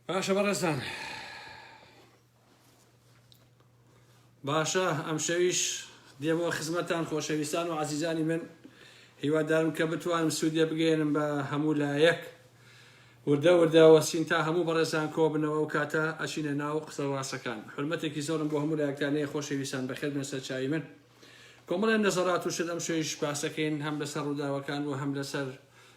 باشە بەڕێزان باشە ئەم شەویش دێمەوە خزمەتان خۆشەویستان و عزیزانی من هیوادارم کە بتوانم سوودێ بگەێنم بە هەموو لایەک وردە وردە وەسین تا هەموو بەڕێزان کۆبنەوە و کاتە ئەچینە ناو قسە ڕاستەکان حرمەتێکی زۆرم بۆ هەموو لایەکتانەیە خۆشەویستان بەخێر بن سەر چاوی من کۆمەڵێن نەزەرات و شت ئەم شەویش پاسەکەین هەم لەسەر ڕووداوەکان و هەم لەسەر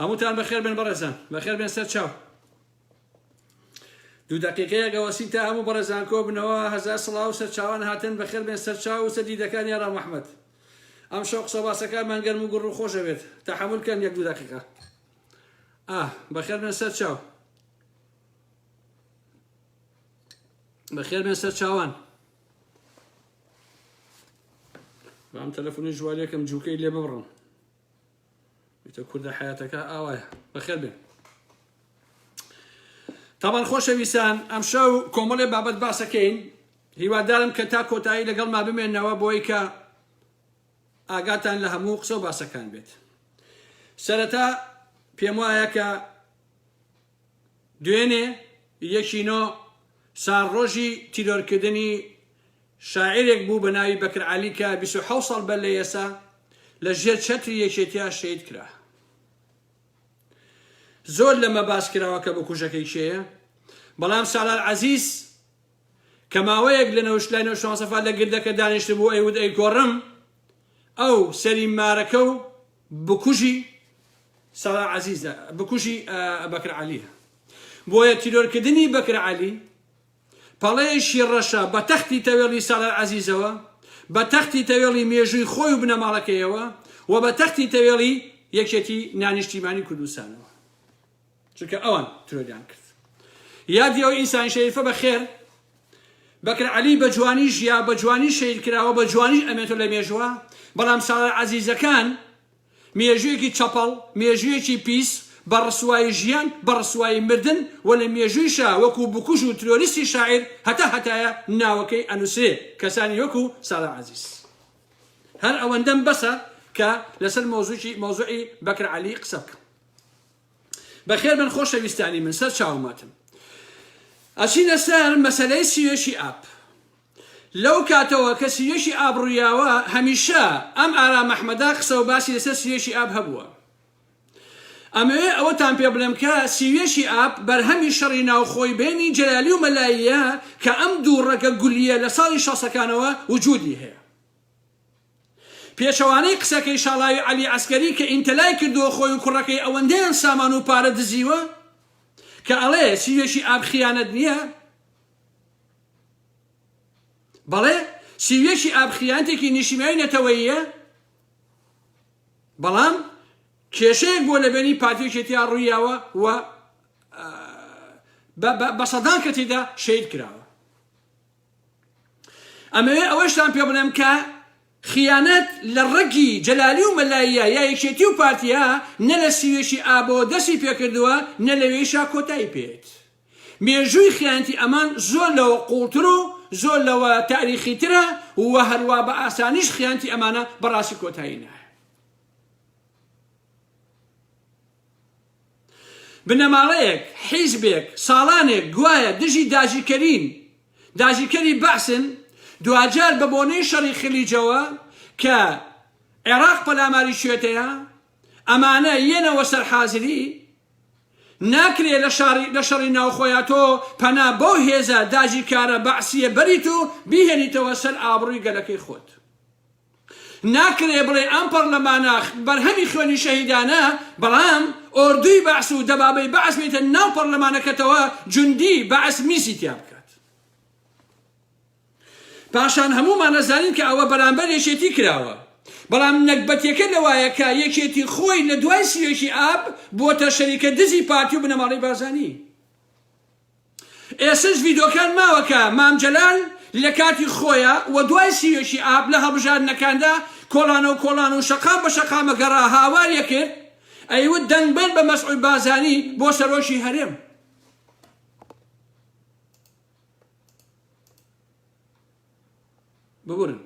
هەمووتان بەخێر بێن بەڕێزان بەخێر بێن سەر چاو دوو دقیقەیە گەوەسین تا هەموو بەڕێزان کۆ بنەوە هەزار سڵاو سەر چاوان هاتن بەخێر بێن سەر چاو و سەر دیدەکان یارا مححمد ئەم شەو قسە باسەکانمان گەرم و گوڕ و خۆشەوێت تا حەمولکەن یەک دوو دقیقە ئا بەخێر بێن سەر چاو بەخێر بێن سەر چاوان بام تەلەفۆنی ژوارێکم جووکەی لێ ببڕم وتە کوردە حیاتەکە ئاوایە بەخێر بێن تاوان خۆشەویستان ئەمشە و کۆمەڵێ بابەت باسەکەین هیوادارم کە تا کۆتایی لەگەڵ ما بمێنەوە بۆی کە ئاگاتان لە هەموو قسە و باسەکان بێت سەرەتا پێم وایە کە دوێنێ، یەکی نۆ، ساڵڕۆژی تیرۆرکردنی شاعیرێک بوو بە ناوی بەکر عەلی کە بیست و حەوت ساڵ بەر لە ئێسە لە ژێر چەتری یەکێتیا شەهید کرا. زۆر لەمە باس کراوە کە بکوژەکەی کێیە، بەڵام سالار عەزیز، کە ماوەیەک لە نەوش لای نەوش مام سەفا لە گردەکە دانیشتبوو ئەیوت ئەیکۆڕم ئەو سەری مارەکە و بکوژی سارا عەزیزە بکوژی بەکر عەلیە بۆیە تیرۆرکردنی بەکر عەلی پەڵەیەکی ڕەشە بە تەختی تەوێڵی سالار عەزیزەوە بە تەختی تەوێڵی مێژووی خۆی و بنەماڵەکەیەوە و بە تەختی تەوێڵی یەکێتی نانیشتیمانی کوردستانەوە چونکە ئەوان ترۆریان کرد یادی ئەو ئینسانی شەریفە بە خێر بەکر علی بە جوانی ژیا بە جوانی شەید کراوە بە جوانی ئەمێتۆ لە مێژوە بەڵام ساڵە عزیزەکان مێژویەکی چەپەڵ مێژویەکی پیس بە ڕسوایی ژیان بە ڕسوایی مردن و لە مێژویشا وەکو بکوژ و ترۆریستی شاعیر هەتا هەتایە ناوەکەی ئەنووسێ کەسانی وەکو ساڵە عزیز هەر ئەوەندەم بەسە کە لەسەر مۆزوی مۆزوعی بەکر علی قسە بکەم بەخێربێن خۆشەویستانی من سەر چاومەتن ئەچینە سەر مەسلەی سیوێشی ئاپ لەو کاتەوە کە سیوێشی ئاب ڕویاوە هەمیشە ئەم ئارا مەحمەدا قسە و باسی لەسەر سیوێشی ئاب هەبووە ئەمەوێ ئەوەتان پێ بڵێم کە سیوێشی ئاپ بەرهەمی شەڕی ناوخۆی بینی جەلالی و مەلاییە کە ئەم دوو ڕەگە گولیە لە ساڵی شەسەکانەوە وجودی هەیە پێچەوانەی قسەکەی شاڵاوی عەلی عەسکەری کە ئینتەلای کردووە خۆی و کوڕەکەی ئەوەندەیان سامان و پارە دزیوە کە ئەڵێ سیوێکی ئاب خیانەت نییە بەڵێ سیوێکی ئاب خیانتێکی نیشیمای نەتەوەیە بەڵام کێشەیەک بۆ لەبێنی پارتیێکێتیا ڕوویاوە و بە سەدان کە تێدا شید کراوە ئەمەوێ ئەوەشتان پێ بڵێم کە خیانەت لە ڕەگی جەلالی و مەلاییە یا یەکێتی و پارتیە نە لە سیوێکی ئابەوە دەستی پێکردووە نە لەوێیشا کۆتایی پێێت. مێژووی خیانەتی ئەمان زۆر لەوە قووڵتر و زۆر لەوە تاریخیترە و هەروا بە ئاسانیش خیانەتی ئەمانە بەڕاستی کۆتایی نایە. بنەماڵەیەک، حیزبێک، ساڵانێک گوایە دژی داگیرکەرین، داگیرکەری بەعسن، دواجار بە بۆنەی شەڕی خلیجەوە کە عێراق پەلاماری کوێتەیە، ئەمانە یەنەوە سەر حازری، ناکرێ لە شەڕی ناوخۆیا تۆ پەنا بەو هێزە داگیرکارە بەعسییە بەریت و بیهێنیتەوە سەر ئابڕووی گەلەکەی خۆت. ناکرێ بڵێ ئەم پەڕلەمانە بەرهەمی خوێنی شەهیدانە، بەڵام ئۆردووی بەعس و دەبابەی بەعس بێتە ناو پەڕلەمانەکەتەوە جوندی بەعس میزی تیا بکات. پاشان هەموومان ئەزانین کە ئەوە بەرامبەر یەکێتی کراوە. بەڵام نەگبەتیەکە لەوایە کە یەکێتی خۆی لە دوای سی و یەکی ئاب بووەتە شەریکە دزی پارتی و بنەماڵەی بارزانی. ئێسش ڤیدۆکان ماوە کە مام جەلال لە کاتی خۆیا وە دوای سیوێکی ئاب لە هەڵبژاردنەکاندا کۆڵانەو کۆڵان و شەقام بە شەقامە گەڕا هاواری ئەکرد ئەیوت دەنگ بەن بە مەسعود بازانی بۆ سەرۆکی هەرێم ببورن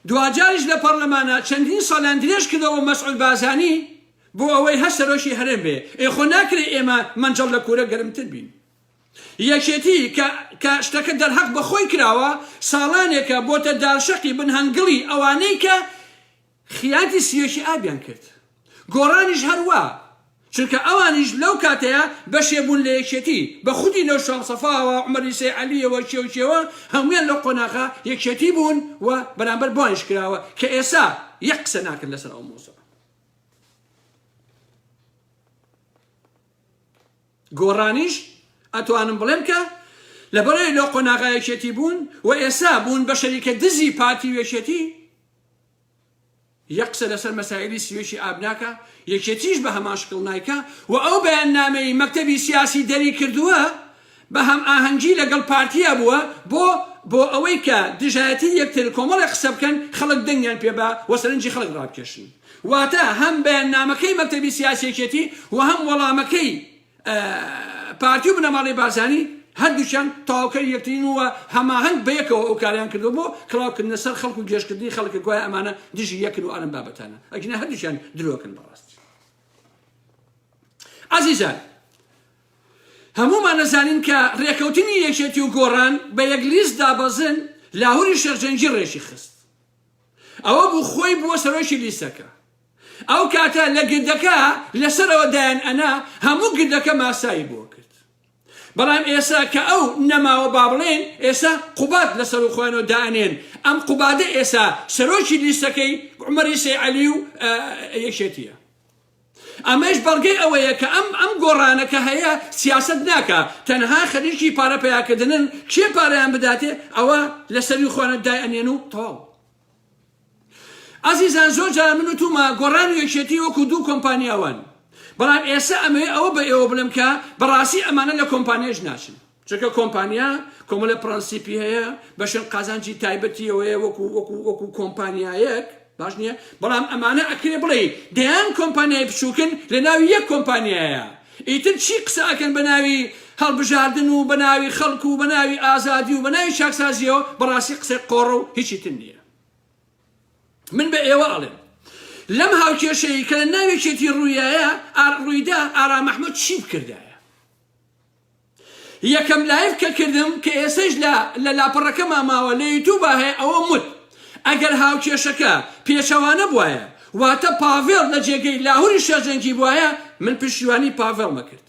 دواجاریش لە پەرلەمانە چەندین ساڵیان درێژ کردەوە مەسعود بازانی بۆ ئەوەی هەر سەرۆکی هەرێم بێ ئێخۆ ناکرێت ئێمە منجڵ لە کورە گەرمتر بین یەکێتی کە شتەکە دەرهەق بەخۆی کراوە ساڵانێکە بۆتە دارشەقی بنهەنگڵی ئەوانەی کە خیاتی سیۆکی ئابیان کرد گۆڕانیش هەروا چونکە ئەوانیش لەو کاتەیا بەشێ بوون لە یەکێتی بە خودی لەو شام سەفاوە عومەری سەی عەلیەوە کێو کێوە هەموویان لەو قۆناغە یەکێتی بوون و بەرامبەر بۆانیش کراوە کە ئێسا یەک قسە ناکەن لەسەر ئەو مۆزوعە گۆڕانیش ئەتوانم بڵێم کە لەبەرەی لەو قۆناغایەکێتی بوون و ئێسا بوون بە شەریکە دزی پارتی وێشێتی یە قسە لەسەر مەسایلی سیۆکی ئاب ناکا یەکێتیش بە هەمان شکڵ نایکا و ئەو بەیاننامەی مەکتەبی سیاسی دەری کردووە بە هەم ئاهەنگی لەگەڵ پارتیا بووە بۆ بۆ ئەوەی کە دژایەتی یەکتر کۆمەڵێک قسە بکەن خەڵک دەنگیان پێ با و سەرنجی خەڵک ڕابکێشن واتە هەم بەیاننامەکەی مەکتەبی سیاسی یەکێتی و هەم وەڵامەکەی پارتی و بنەماڵەی بارزانی هەردووکیان تەواوکەری یەکترین و هەماهەنگ بەیەکەوە ئەو کاریان کردو بۆ کڵاوکردنە سەر خەڵک و گێشکردنی خەڵکە گوایە ئەمانە دژی یەکن و ئارم بابەتانە ئەگینا هەردووکیان درۆکن بەڕاستی عزیزان هەمومان نەزانین کە ڕێکەوتنی یەکێتی و گۆڕان بە یەک لیست دابەزن لاهوری شێخجەنگی ڕێکی خست ئەوە بوو خۆی بووە سەرۆکی لیستەکە ئەو کاتە لە گردەکە لە سەرەوە دایان ئەنا هەموو گردەکە ماسایی بۆ کرد بەڵام ئێسا کە ئەو نەماوە بابڵێن ئێسا قوباد لە سەر و خۆیانەوە دانێن ئەم قوبادە ئێسا سەرۆکی لیستەکەی عمەری سەی عەلی و یەکێتیە ئەمەش بەڵگەی ئەوەیە کە ئەم ئەم گۆڕانە کە هەیە سیاست ناکە تەنها خەریکی پارە پیاکردنن کێ پارەیان بداتێ ئەوە لەسەری خوانە دای ئەنێن و تەواو ئازیزان زۆر جار من و توما گۆڕان و یەکێتی وەکو دوو کۆمپانیا وان بەڵام ئێستا ئەمەوێ ئەوە بە ئێوە بڵێم کە بەڕاستی ئەمانە لە کۆمپانیاش ناچن چونکە کۆمپانیا کۆمەلە پرەنسیپی هەیە بەشن قازانجی تایبەتیەوەیە وەکو وەکو وەکو کۆمپانیایەک باش نییە بەڵام ئەمانە ئەکرێ بڵێ دەیان کۆمپانیای بچووکن لە ناوی یەک کۆمپانیایە ئیتر چی قسە ئەکەن بەناوی هەڵبژاردن و بەناوی خەڵک و بەناوی ئازادی و بەناوی چاکسازیەوە بەڕاستی قسەی قۆڕە و هیچی تر نییە من بە ئێوە ئەڵێم لەم هاوکێشەی کە لە ناوێکێتی ڕوویایە ئار ڕوویدا ئارا مەحمود چی بکردایە یەکەم لایڤ کە کردم کە ئێستەش لە لە لاپەڕەکەما ماوە لە یوتوبا هەیە ئەوەم وت ئەگەر هاوکێشەکە پێچەوانە بوایە واتە پاڤێڵ لە جێگەی لاهوری شەرجەنگی بوایە من پشتیوانی پاڤێڵمە کرد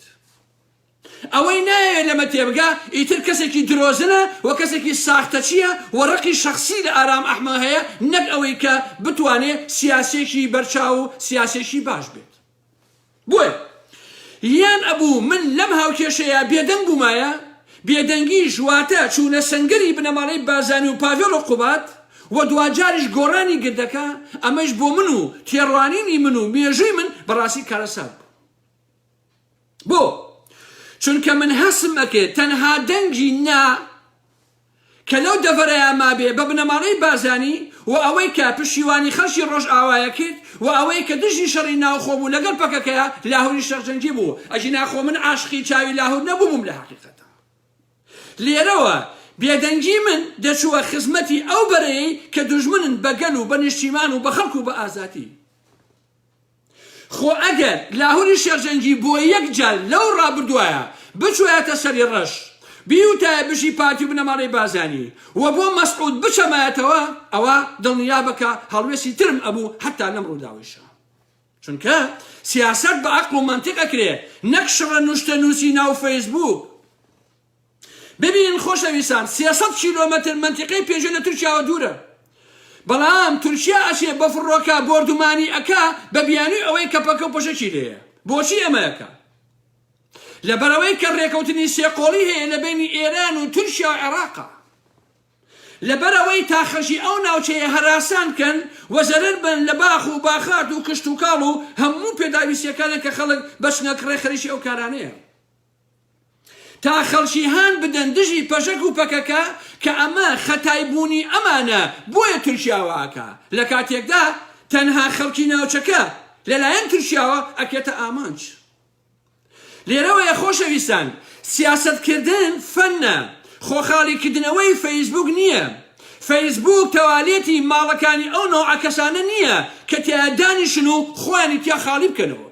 ئەوەی نایەوێت لەمە تێبگا ئیتر کەسێکی درۆزنە و کەسێکی ساختەچیە و ڕقی شخصی لە ئارام ئەحمە هەیە نەک ئەوەی کە بتوانێت سیاسێکی بەرچاو و سیاسێکی باش بێت بۆیە یان ئەبوو من لەم هاوکێشەیە بێدەنگ بوومایە، بێدەنگیش واتە چوونە سەنگەری بنەماڵەی بازانی و پاڤێڵ و قوباد و دواجاریش گۆڕانی گردەکە، ئەمەیش بۆ من و تێڕوانینی من و مێژووی من بەڕاستی کارەسات بوو. بۆ؟ چونکە من هەستم ئەکرد تەنها دەنگی نا کە لەو دەڤەرەیا مابێ بە بنەماڵەی بارزانی و ئەوەی کە پشیوانی خەڵکی ڕۆژئاوایە کرد و ئەوەی کە دژی شەڕی ناوخۆ بوو لەگەڵ پەکەکەیا لاهوری شەڕجەنگی بوو ئەگینا خۆ من عاشقی چاوی لاهور نەبووبووم لە حەقیقەتا لێرەوە بێدەنگی من دەچووە خزمەتی ئەو بەرەیەی کە دوژمنن بە گەل و بە نیشتیمان و بە خەڵک و بە ئازادی خۆ ئەگەر لاهوری شێرجەنگی بۆ یەک جار لەو ڕابردوایە بچوایەتە سەری ڕەش بیوتایە بژی پارتی و بنەماڵەی بارزانی و بۆ مەسعود بچەمایەتەوە ئەوا دڵنیابە کە هەڵوێستی ترم ئەبوو هەتا لەم ڕووداوەیشا چونکە سیاسەت بە عەقڵ و مەنتیق ئەکرێ نەک شڕە نوشتە نووسی ناو فەیسبووک. ببینن خۆشەویستان سێ سەد کیلۆمەتر مەنتیقەی پێژێ لە تورکیاوە دوورە بەڵام تورکیا ئەچێ بە فڕۆکە بۆردومانی ئەکا بە بیانوی ئەوەی کە پەکە و پەشەکی لێیە بۆچی ئەمەیەکە لەبەرەوەی کە ڕێکەوتنی سێقۆڵی هەیە لە بینی ئێران و تورکیا و عێراقا لەبەرەوەی تا خەشی ئەو ناوچەیە هەراسان کەن و زەرەر بن لە باخ و باخات و کشت و کاڵ و هەموو پێداویستیەکانە کە خەڵک بەچنە کڕێ خەریکی ئەو کارانەیە تا خەڵکی هان بدەن دژی پەژەک و پەکەکە کە ئەمە خەتای بوونی ئەمانە بۆیە تورکیا وا ئەکا لە کاتێکدا تەنها خەڵکی ناوچەکە لەلایەن تورکیاوە ئەکرێتە ئامانج لێرەوەیە خۆشەویستان سیاسەت کردن فەنە خۆخاڵی کردنەوەی فەیسبوک نییە فەیسبوک تەوالێتی ماڵەکانی ئەو نەوعە کەسانە نییە کە تیا دانیشن و خۆیانی تیا خاڵی بکەنەوە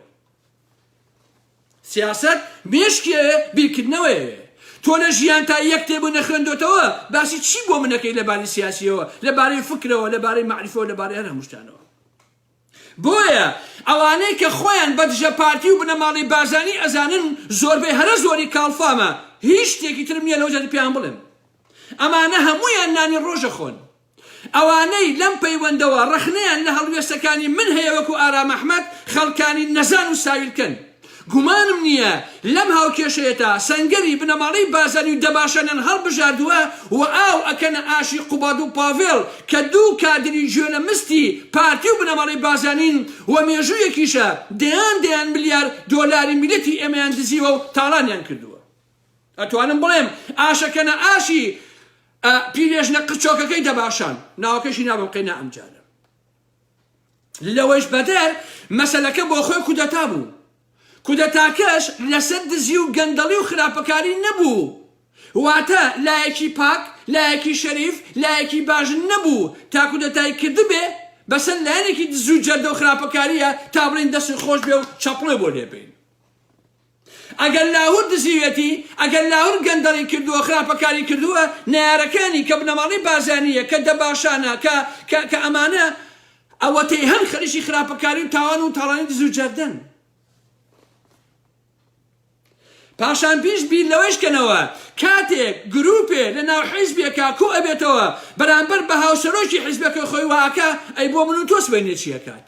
سیاسەت مێشکی ئەوێ بیرکردنەوە ئەوێ. تۆ لە ژیان تا یەک کتێبو نەخوێندۆتەوە باسی چی بۆ من ئەکەی لە باری سیاسیەوە لە بارەی فکرەوە لە بارەی مەعریفەوە لە بارەی هەر هەموو شتانەوە. بۆیە ئەوانەی کە خۆیان بە دژە پارتی و بنەماڵەی بارزانی ئەزانن زۆربەی هەرە زۆری کاڵفامە هیچ شتێکی ترم نیە لەو جەهەتە پێیان بڵێم ئەمانە هەموویان نانی ڕۆژە خۆن. ئەوانەی لەم پەیوەندەوە ڕەخنەیان لە هەڵوێستەکانی من هەیە وەکو ئارام ئەحمەد خەڵکانی نەزان و ساویلکەن. گومانم نییە لەم هاوکێشەیەتا سەنگەری بنەماڵەی بازانی و دەباشانیان هەڵبژاردووە و ئاو ئەکەنە ئاشی قوباد و پاڤێڵ کە دوو کادری گوێ لە مستی پارتی و بنەماڵەی بازانین و مێژوویەکیشە دەیان دەیان ملیار دۆلاری میلەتی ئێمەیان دزیوە و تاڵانیان کردووە. ئەتوانم بڵێم ئاشەکەنە ئاشی ئا پیرێژنە قرچۆکەکەی دەباشان ناوەکەشی نابم قەینا ئەمجارە لەوەش بەدەر مەسەلەکە بۆ خۆی کودەتا بوو کودەتاکەش لەسەر دزی و گەندەڵی و خراپەکاری نەبوو واتە لایەکی پاک لایەکی شەریف لایەکی باش نەبوو تا کودەتای کردبێ بەسەر لایەنێکی دزو جەردە و خراپەکاریە تا بڵین دەستی خۆش بێ و چەپڵێ بۆ لێبین ئەگەر لاهور دزیوێتی، ئەگەر لاهور گەندەڵی کردووە، خراپەکاری کردووە، نەیارەکانی کە بنەماڵەی بارزانییە، کە دەباشانە، کە، کە، کە ئەمانە ئەوەتەی هەن خەریکی خراپەکاری و تاوان و تاڵانی دز و جەردەن. پاشان پیش بیر لەوەیش کەنەوە کاتێک گروپێ لە ناو حیزبێکا کۆ ئەبێتەوە بەرامبەر بە هاوسەرۆکی حیزبەکەی خۆی وا ئەکا ئەی بۆ من و تۆ سبەینێ چی ئەکات؟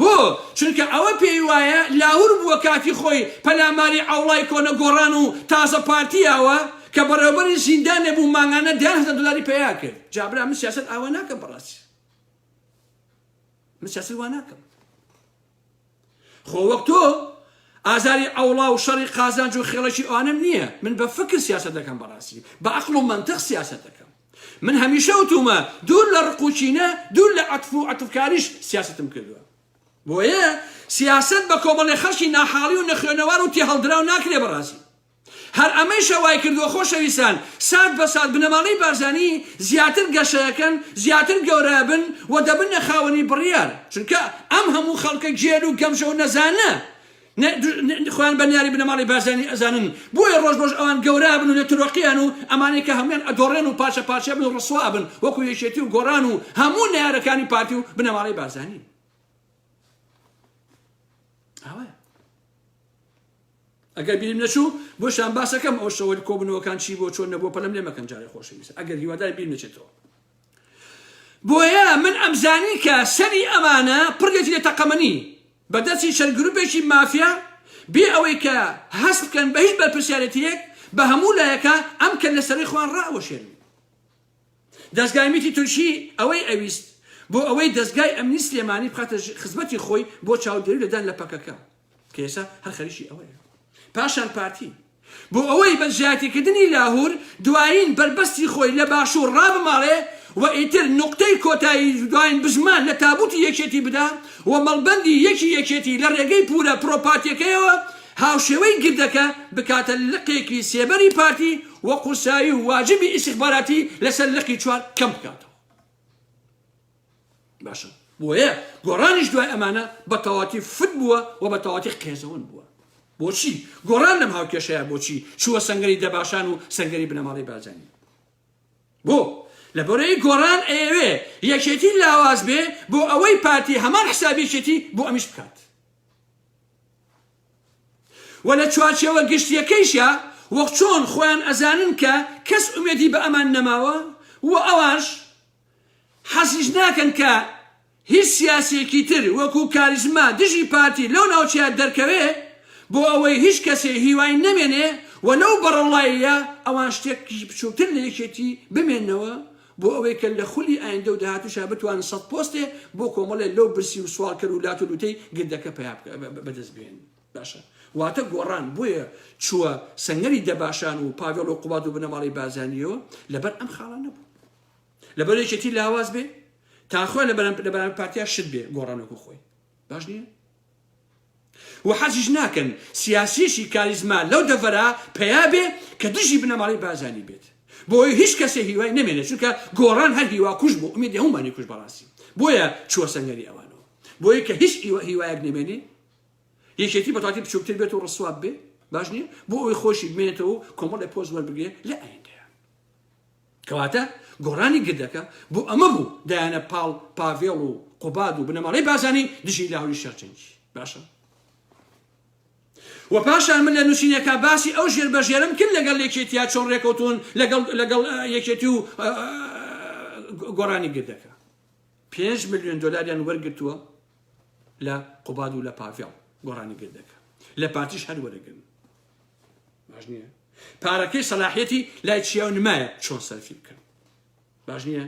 بۆ؟ چونکە ئەوە پێی وایە لاهور بووە کاتی خۆی پەلاماری عەوڵای کۆنە گۆڕان و تازە پارتی ئاوە کە بەڕێوەبەری زیندانێ بوو مانگانە دەیان هەزار دۆلاری پەیا کرد جا برا من سیاسەت ئاوا ناکەم بەڕاستی من سیاسەت وا ناکەم خۆ وەک تۆ ئازاری ئەوڵا و شەڕی قازانج و خێڵەکی ئەوانم نییە من بە فکر سیاست دەکەم بەڕاستی بە عقل و منطق سیاست دەکەم من هەمیشە وتومە دوور لە ڕق و کینە دوور لە عەتف و عەتفکاریش سیاسەتم کردوە بۆیە سیاسەت بە کۆمەڵێ خەڵکی ناحاڵی و نەخوێنەوار و تێهەڵدراو ناکرێ بەڕازی هەر ئەمەیشە وای کردوە خۆشەویستان سات بە سات بنەماڵەی بارزانی زیاتر گەشەکەن زیاتر گەورەبن و دەبنە خاوەنی بڕیار چونکە ئەم هەموو خەڵکە گێل و گەمژە و نەزانە نە خۆیان بە نیاری بنەماڵەی بارزانی ئەزانن بۆیە ڕۆژ بەڕۆژ ئەوان گەورابن و لە ترۆقیان و ئەمانەی کە هەموویان ئەدۆڕێن و پارچە پارچەبن و ڕسوابن وەکو یەکێتی و گۆڕان و هەموو نەیارەکانی پارتی و بنەماڵەی بارزانی ئەوە ئەگەر بیرم نەچوو بۆ شان باسەکەم ئەو شەوە کۆبنەوەکان چی بۆ چۆن نەبوو پەلم لێ مەکەن جارێ خۆشەویست ئەگەر هیوادار بیر نەچێتەوە بۆیە من ئەمزانی کە سەری ئەمانە پڕێتی لە تەقەمەنی بە دەستی چەند گروپێکی مافیا بێ ئەوەی کە هەست بکەن بە هیچ بەرپرسیارێتیەک بە هەموو لایەکا ئەم کەللە سەرەی خۆیان ڕائەوەشێنن. دەزگای میتی تورکی ئەوەی ئەویست بۆ ئەوەی دەزگای ئەمنی سلێمانی بخاتە خزمەتی خۆی بۆ چاودێری لە دان لە پەکەکە کە ئێستا هەر خەریکی ئەوەیە پاشان پارتی بۆ ئەوەی بە زیادیکردنی لاهور دوایین بەربەستی خۆی لە باشوور ڕابماڵێ و ئیتر نوقتەی کۆتایی دوایین بزمان لە تابووتی یەکێتی بدا و مەڵبەندی یەکی یەکێتی لە ڕێگەی پوورە پرۆپاتیەکەیەوە هاوشێوەی گردەکە بکاتە لقێکی سێبەری پارتی و قورسایی و واجبی ئیستیخباراتی لەسەر لقی چوار کەم بکاتەوە. باشە بۆیە گۆڕانیش دوای ئەمانە بە تەواتی فت بووە و بە تەواتی قێزەون بووە بۆچی گۆڕان لەم هاوکێشەیە بۆچی چووە سنگری دەباشان و سنگری بنەماڵی بازانی بۆ لە بەرەی گۆڕان ئەیەوێ یەکێتی لاواز بێ بۆ ئەوەی پارتی هەمان حسابێکێتی بۆ ئەمیش بکات و لە چوارچێوە گشتیەکەیشە وەخ چۆن خۆیان ئەزانن کە کەس ئومێدی بە ئەمان نەماوە و ئەوانش حەزیش ناکەن کە هیچ سیاسییەکی تر وەکوو کاریزما دژی پارتی لەو ناوچەیە دەرکەوێ بۆ ئەوەی هیچ کەسێ هیوای نەمێنێ و لەو بەڕەڵاییە ئەوان شتێکی بچووکتر لە یەکێتی بمێنەوە بۆ ئەوەی کە لە خولی ئایندە و داهاتووشا بتوانن سەد پۆستێ بۆ کۆمەڵێ لەو برسی و سواڵکەر و لات و لووتەی گردەکە پەیا بەدەست بێنن. باشە واتە گۆڕان بۆیە چووە سەنگەری دەباشان و پاڤێڵ و قوباد و بنەماڵەی بارزانییەوە لەبەر ئەم خاڵە نەبوو. لەبەر یەکێتی لاواز بێ تا خۆی لە بەرەم لە بەرەم پارتیا شت بێ گۆڕانۆکو خۆی باش نییە و حەزیش ناکەن سیاسیشی کاریزما لەو دەڤەرا پیا بێ کە دژی بنەماڵی بازانی بێت بۆی هیچ کەسێ هیوای نەمێنێ چونکە گۆڕان هەر هیوا کوش بۆ ئومیدی هەمومانی کوش بەڕاستی بۆیە چووە سەنگەری ئەوانەوە بۆیە کە هیچ ئیوە هیوایەک نەمێنێ یەکێتی بەتاتی بچووکتر بێت و ڕسواب بێ باش نییە بۆ ئەوی خۆشی بمێنێتەوە کۆمەڵی پۆز وەربگێ لە ئایندا کەواتە گۆڕانی گردەکە بۆ ئەمە بوو دایانە پاڵ پاڤێڵ و قوباد و بنەماڵەی بازانی دژی لاهوری شەرچەنگی باشە و پاشان من لە نووسینەکە باسی ئەو ژێر بەژێرم کرد لەگەڵ یەکێتیا چۆن ڕێکەوتون لەگەڵ یەکێتی و گۆڕانی گردەکە پێنج میلیۆن دلاریان وەرگتووە لە قوباد و لە پاڤێڵ گۆڕانی گردەکە لە پارتیش هەر وەرەگرن باش نییە پارەکەی سەلاحیەتی لای چیا و نمایە چۆن سەرفی بکەن باش نییە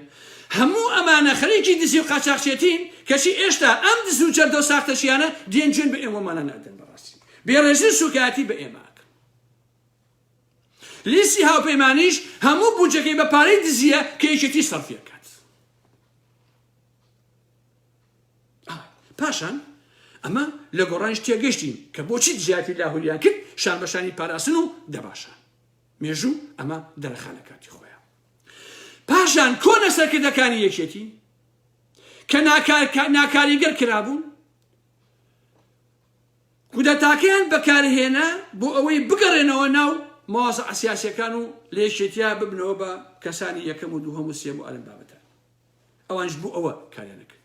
هەموو ئەمانە خەریکی دزی و قاچاخچێتین کەچی ئێشتا ئەم دز و جەردە و ساختەچیانە دێن جوێن بە ئێمەمانە نادەن بەڕاستی بێڕێزی و سوکایەتی بە ئێماکە لیستی هاوپەیمانیش هەموو بودجەکەی بە پارەی دزیە کە یەکێتی سەرفیەکات پاشان ئەمە لە گۆڕانیش تێگەشتین کە بۆچی دژایەتی لاهوریان کرد شان بەشانی پاراستن و دەباشان مێژوو ئەمە دەرەخانە کاتی خۆیان پاشان کۆنە سەرکردەکانی یەکێتی کە ناکاریگەر کرابوون کودەتاکەیان بەکارهێنا بۆ ئەوەی بگەڕێنەوە ناو ماوەزە ئەسیاسەکان و لێشێتیا ببنەوە بە کەسانی یەکەم و دووهەم و سێم و ئەلم بابەتە ئەوانیش بۆ ئەوە کاریان نەکرد.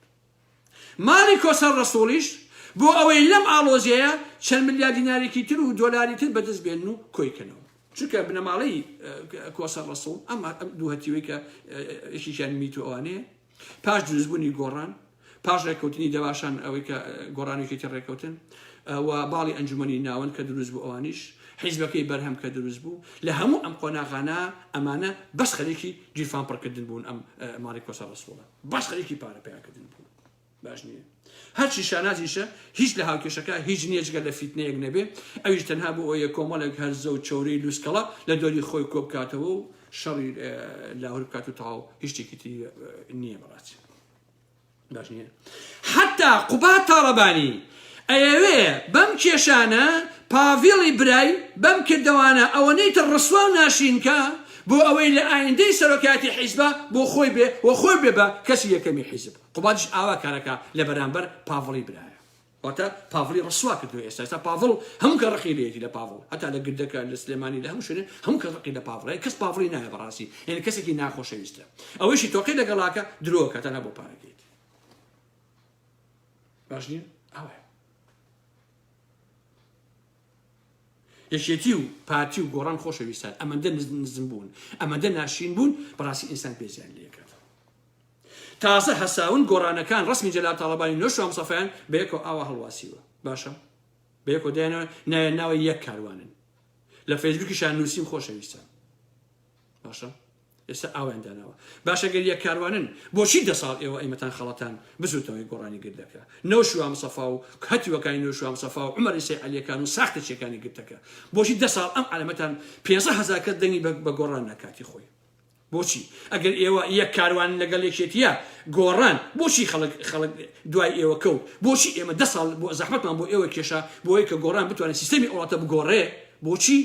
ماڵی کۆسەر ڕەسوڵیش بۆ ئەوەی لەم ئاڵۆزیەیە چەند ملیار دینارێکی تر و دۆلاری تر بەدەست بێنن و کۆی کەنەوە. چونکە بنەماڵەی کۆسەر ڕەسوڵ ئەم دوو هەتیوەی کە یەکێکیان میت و ئەوانەیە پاش دروستبوونی گۆڕان پاش ڕێککەوتنی دەباشان ئەوەی کە گۆڕانێکێتی ڕێککەوتن و باڵی ئەنجومنی ناوەند کە دروست بوو ئەوانیش حیزبەکەی بەرهەم کە دروست بوو لە هەموو ئەم قۆناغانە ئەمانە بەس خەرێکی گیرفان پڕ کردن بوون ئەم ماڵی کۆسە ڕسوڵە باش خەریکی پارە پیا کردن بوون باش نییە هەرچی شانازیشە هیچ لە هاوکێشەکە هیچ نییە جگە لە فیتنەیەک نەبێ ئەویش تەنها بۆ ئەوە کۆمەڵێک هەرزە و چۆری لوسکەڵە لە دۆری خۆی کۆ بکاتەوە و شەڕی لاهور بکات و تەواو هیچ شتێکی تری نییە بەڕاستی باش نییە حەتا قوباد تاڵەبانی ئەیەوێ بەم کێشانە پاڤڵی برای بەم کردەوانە ئەوەنەی تر ڕسوا و ناشرین کا بۆ ئەوەی لە ئایندەی سەرۆکایەتی حیزبا بۆ خۆی بێ و خۆی بێ بە کەسی یەکەمی حیزب قوبادیش ئاوا کارەکا لە بەرامبەر پاڤڵی برایە. واتە پاڤڵی ڕسوا کردوە ئێستا ئێستا پاڤڵ هەموو کە ڕقی لێیەتی لە پاڤڵ هەتا لە گردەکە لە سلێمانی لە هەموو شوێنێ هەموو کە ڕقی لە پاڤڵ یان کەس پاڤڵی نایە بەڕاستی یعنی کەسێکی ناخۆشەویستە ئەوەیشی تۆقی لەگەڵاکە درۆکە تەنها بۆ پارەکەیت باش نییە ئەوە یەکێتی و پارتی و گۆڕان خۆشەویستان ئەمەندە نزم بوون ئەمەدە ناشین بوون بەڕاستی ئینسان پێزیان لەکات تازە هەساون گۆڕانەکان ڕەسمی جەلال تاڵەبانی نۆ شوام سەفەیان بە یەکەوە ئاوا هەڵواسیوە باشە بە یەکەوە دێنەوە نایە ناوە یەک کاروانن لە فەیسبوکیشان نووسیم خۆشەویستە باشە ئێستا ئاویان داناوە باشە گەر یەک کاروانن بۆچی دە ساڵ ئێوە ئەیمەتان خەڵەتان بزوتەوەی گۆڕانی گردەکە نەو شوام سەفا و هەتیوەکانی نو شوام سەفا و عمەری سەی علیەکان و ساختە چێکانی گرتەکە بۆچی دە ساڵ ئەم علەمەتان پێزە هەزار کەس دەنگی بە گۆڕان نەکاتی خۆی بۆچی ئەگەر ئێوە یەک کاروانن لەگەڵ یەکێتیە گۆڕان بۆچی خەڵک خەڵک دوای ئێوە کەوت بۆچی ئێمە دە ساڵ بۆ زەحمەتمان بۆ ئێوە کێشا بۆ ئەوەی کە گۆڕان بتوانێت سیستەمی ئەوڵاتە بگۆڕێ بۆچی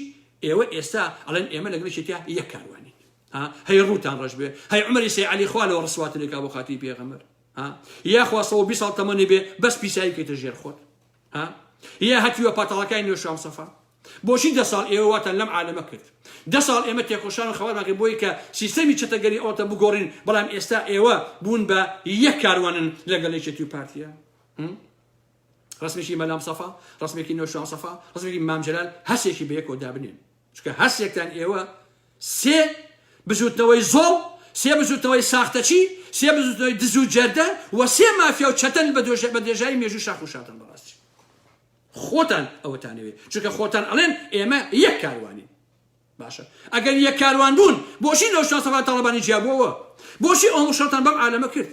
ئێوە ئێستا ئەڵێن ئێمە لەگەڵ یەکێتیا یەک کاروانین ها هەی ڕووتان ڕەش بێ هەی عمری سەی علی خوا لەوە ڕسواتنێکا بۆ خاتری پێغەمبەر ها یاخوا سەوە بی ساڵ تەمەنی بێ بەس پیسایی بکەیتە ژێر خۆت ها یە هەتیوە پاتاڵەکای نوێ شام سەفا بۆچی دە ساڵ ئێوە واتان لەم عالەمە کرد دە ساڵ ئێمە تێکۆشان و خەواتمان کرد بۆی کە سیستەمی چەتەگەری ئەوتە بگۆڕین بەڵام ئێستا ئێوە بوون بە یەک کاروانن لەگەڵ یەکێتی و پارتیە ڕسمێکی مەلام سەفا ڕسمێکی نۆشان سەفا ڕسمێکی مامجلال هەسێکی بەیەکەوە دابنێن چونکە هەرسێکتان ئێوە سێ بزوتنەوەی زۆڵ، سێ بزوتنەوەی ساختەچی، سێ بزوتنەوەی دزو جەردە و سێ مافیا و چەتەن بە دێژایی مێژوی شاخ و شارتان بەڕاستی خۆتان ئەوەتانەوێ چونکە خۆتان ئەڵێن ئێمە یەک کاروانین. باشە ئەگەر یەک کاروان بوون بۆچی لەو شان سەفا تاڵەبانی جیابووەوە بۆچی ئەو مشەڵتان بەم عالەمە کرد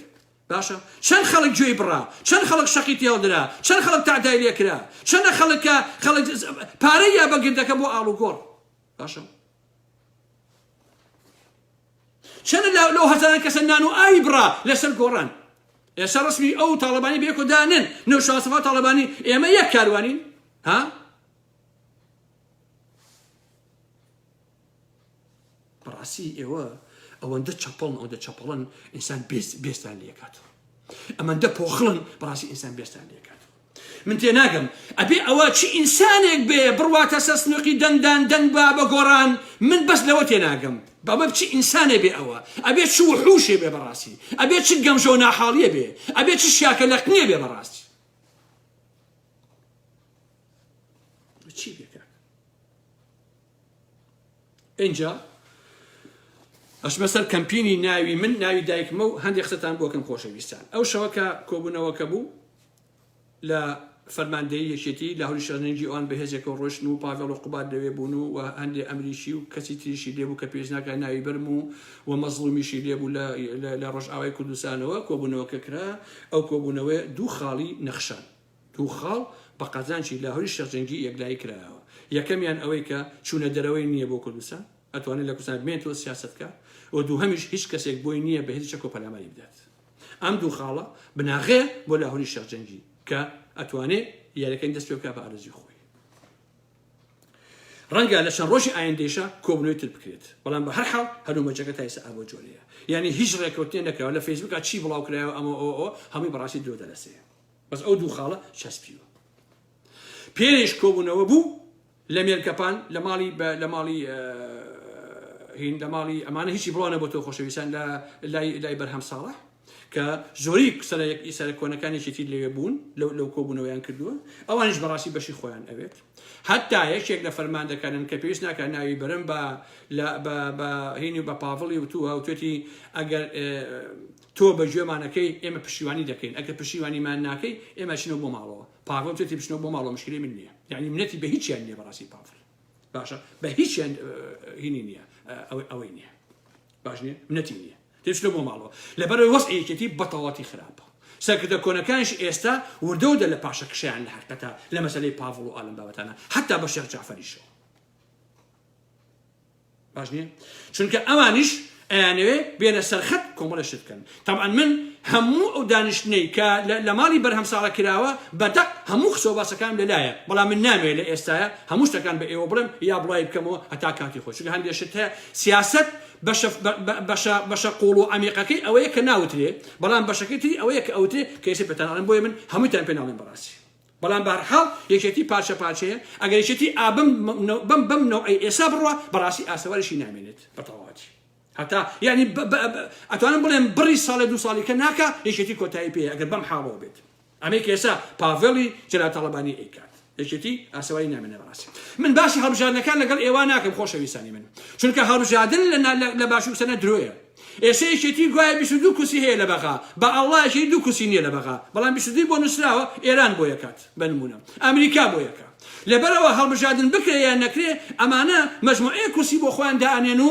باشە چەند خەڵک گوێی بڕا چەند خەڵک شەقی تێڵ درا چەند خەڵک تەعدای لێ کرا چەنە خەڵک کە خەڵک پارەی یا بە گردەکە بۆ ئاڵوگۆڕ باشە چەنە لە لەو هەزاران کەسە نان و ئاوی بڕا لەسەر گۆڕان ئێستا ڕسمی ئەو تاڵەبانی بێکۆ دانن نەو شاسەفا تاڵەبانی ئێمە یەک کاروانین ها بەڕاستی ئێوە ئەوەندە چەپڵن ئەوەندە چەپڵن ئینسان بێستان لێکات ئەمەندە پۆخڵن بەڕاستی ئینسان بێستان لێکات من تێ ناگەم ئەبێ ئەوە چی ئینسانێک بێ بڕواتە سەر سنوقی دەنگدان دەنگ با بە گۆڕان من بەس لەوە تێ ناگەم بەمە بچی ئینسانێ بێ ئەوە ئەبێ چ وحوشێ بێ بەڕاستی ئەبێ چ گەمژە و ناحاڵیە بێ ئەبێ چ شاکە لەقنێ بێ بەڕاستی چی بێ کاک ئینجا ئەشمە سەر کەمپینی ناوی من ناوی دایکمە و هەندێک قسەتان بۆکەم خۆشەویستان ئەو شەوەکە کۆبوونەوەکە بوو لە فەرماندەی یەکێتی لە هەوری شەرنجی ئەوان بەهێزێکە و ڕۆشن و پاگەڵ و قوبات لەوێ بوون و هەندێک ئەمریکی و کەسی تریشی لێبوو کە پێشناکە ناوی برم و و مەزڵومیشی لێبوو لە ڕۆژئاوای کوردستانەوە کۆبوونەوەکە کرا ئەو کۆبوونەوە دوو خاڵی نەخشان دوو خاڵ بە قازانجی لاهوری شێخ جەنگی یەکلایی کرایەوە، یەکەمیان ئەوەی کە چوونە دەرەوەی نییە بۆ کوردستان، ئەتوانێت لە کوردستان بمێنێت و سیاسەت بکات و دووهەمیش هیچ کەسێک بۆی نییە بە هێزی چەکەوە پەلاماری بدات. ئەم دوو خاڵە بناغەیە بۆ لاهوری شێخ جەنگی کە ئەتوانێت یاریەکانی دەست پێ بکات بە ئارەزووی خۆی. ڕەنگە لە چەند ڕۆژی ئایندەیشا کۆبوونەوەی تر بکرێت، بەڵام بە هەر حاڵ هەلومەرجەکە تا ئێستا ئەبەو جۆرەیە. یانی هیچ ڕێککەوتنێ نەکراوە، لە فەیسبووکا چی بڵاو کرایەوە ئەمە ئەوە ئەوە، هەمووی بە ڕاستی درۆ دەلەسێ. بەس ئەو دوو خاڵە چەسپیوە پێش کۆبوونەوە بوو لە مێرکەپان لە ماڵی لە ماڵی هین لە ماڵی ئەمانە هیچی بڵانە بۆ تۆ خۆشەویستان لە لای بەرهەم ساڵح کە زۆری سەر یەک ئیسەر کۆنەکانێکی تیر لەوێ بوون لەو لەو کۆبوونەوەیان کردووە ئەوانش بەڕاستی بەشی خۆیان ئەوێت هەتا یەکێک لە فەرماندەکانن کە پێویست ناکە ناوی برم بە هینی بە پاڤڵی وتووە وتێتی ئەگەر تۆ بە گوێمان ئەکەی ئێمە پشتیوانی دەکەین ئەگەر پشتیوانیمان ناکەی ئێمە ئەچینەوە بۆ ماڵەوە پاڤڵ جەتی بچنەوە بۆ ماڵەوە مشکلی من نییە یانی منەتی بە هیچیان نییە بەڕاستی پاڤڵ باشە بە هیچیان هینی نییە ئەوەی نییە باش نییە منەتی نییە تێچنە بۆ ماڵەوە لەبەرەوەی وەست یەکێتی بەتەواتی خراپە سەرکردە کۆنەکانش ئێستا وردە و دە لە پاشە کشیان لە حقەتە لە مەسلەی پاڤڵ و ئالم بابەتانە حتا بە شێخ جعفریشەوە باش نییە چونکە ئەوانیش ئەیانەوێ بێنە سەرخەت کۆمەڵە شت بکەن تەبعەن من هەموو ئەو دانیشتنەی کە لە ماڵی بەرهەم ساڵە کراوە بەدەق هەموو خسۆ باسەکان لەلایە بەڵام من نامێ لە ئێستاە هەموو شتەکان بە ئێوە بڵێم یا بڵای بکەمەوە هەتا کاتی خۆش هەندێ شت هەیە سیاست بەشە قوڵ و ئەمیقەکەی ئەوەیە کە ناوترێ بەڵام بەشەکەی تری ئەوەیە کە ئەوترێ کەسی پێتانڵێن بۆی من هەمووتان پێناڵێن بەڕاستی بەڵام بەهەرحاڵ یەکێتی پارچە پارچەیە، ئەگەر یەکێتی ئا بەم بەم بەم نەوعەی ئێسا بڕوا بەڕاستی ئاسەواریشی نامێنێت بەتەواوەتی هەتا یانی بە بە ئەتوانم بڵێم بڕی ساڵێ دوو ساڵی کە ناکا یەکێتی کۆتایی پێیە ئەگەر بەم حاڵەوە بێت ئەمەی کە ئێسا پاڤێڵی جەلال تاڵەبانی ئەیکات یەکێتی ئاسەواری نامێنێ بەڕاستی من باسی هەڵبژاردنەکان لەگەڵ ئێوە ناکەم خۆشەویستانی من چونکە هەڵبژاردن لە لە باشوور سەنە درۆیە ئێستا یەکێتی گوایە بیست و دوو کورسی هەیە لە بەغا بە ئەڵڵا یەکێتی دوو کورسی نیە لە بەغا بەڵام بیست و دووی بۆ نوسراوە ئێران بۆ یەکات بە نمونە ئەمریکا بۆ یەکە لەبەر ئەوە هەڵبژاردن بکرێ یان نەکرێ ئەمانە مەجموعەیەک کورسی بۆ خۆیان دائەنێن و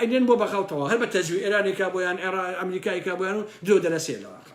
ئەینێن بۆ بەغا و تەواو هەر بە تەزوی ئێرانێکا بۆیان ئێڕا ئەمریکایکا بۆیان و درۆ دەلەسێ لە واقع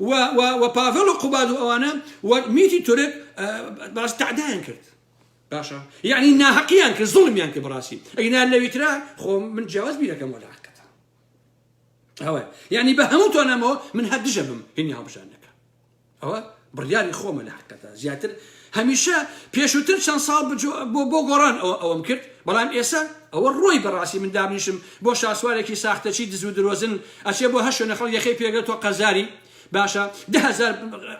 و و و پاڤێڵ و قوباد و ئەوانە و میتی تورک باس تعدایان کرد باشە یعنی ناهەقیان کرد زڵمیان کرد بڕاستی ئەینا لەویترا خۆ من جیاواز بیرەکەم وەلا حقەتە ئەوە یعنی بە هەموو تۆنەمەوە من هەر دژە بم هینی هەڵبژاندنەکە ئەوە بڕیاری خۆمە لە حقەتە زیاتر هەمیشە پێشوتر چەند ساڵ بۆ بۆ گۆڕان ئەوە ئەوەم کرد بەڵام ئێسە ئەوە ڕۆی بەڕاستی من دابنیشم بۆ شاسوارێکی ساختەچی دزو درۆزن ئەچێ بۆ هەر شوێنە خەڵک یەخەی پێگرێ تۆ قەرزاری باشە دە هەزار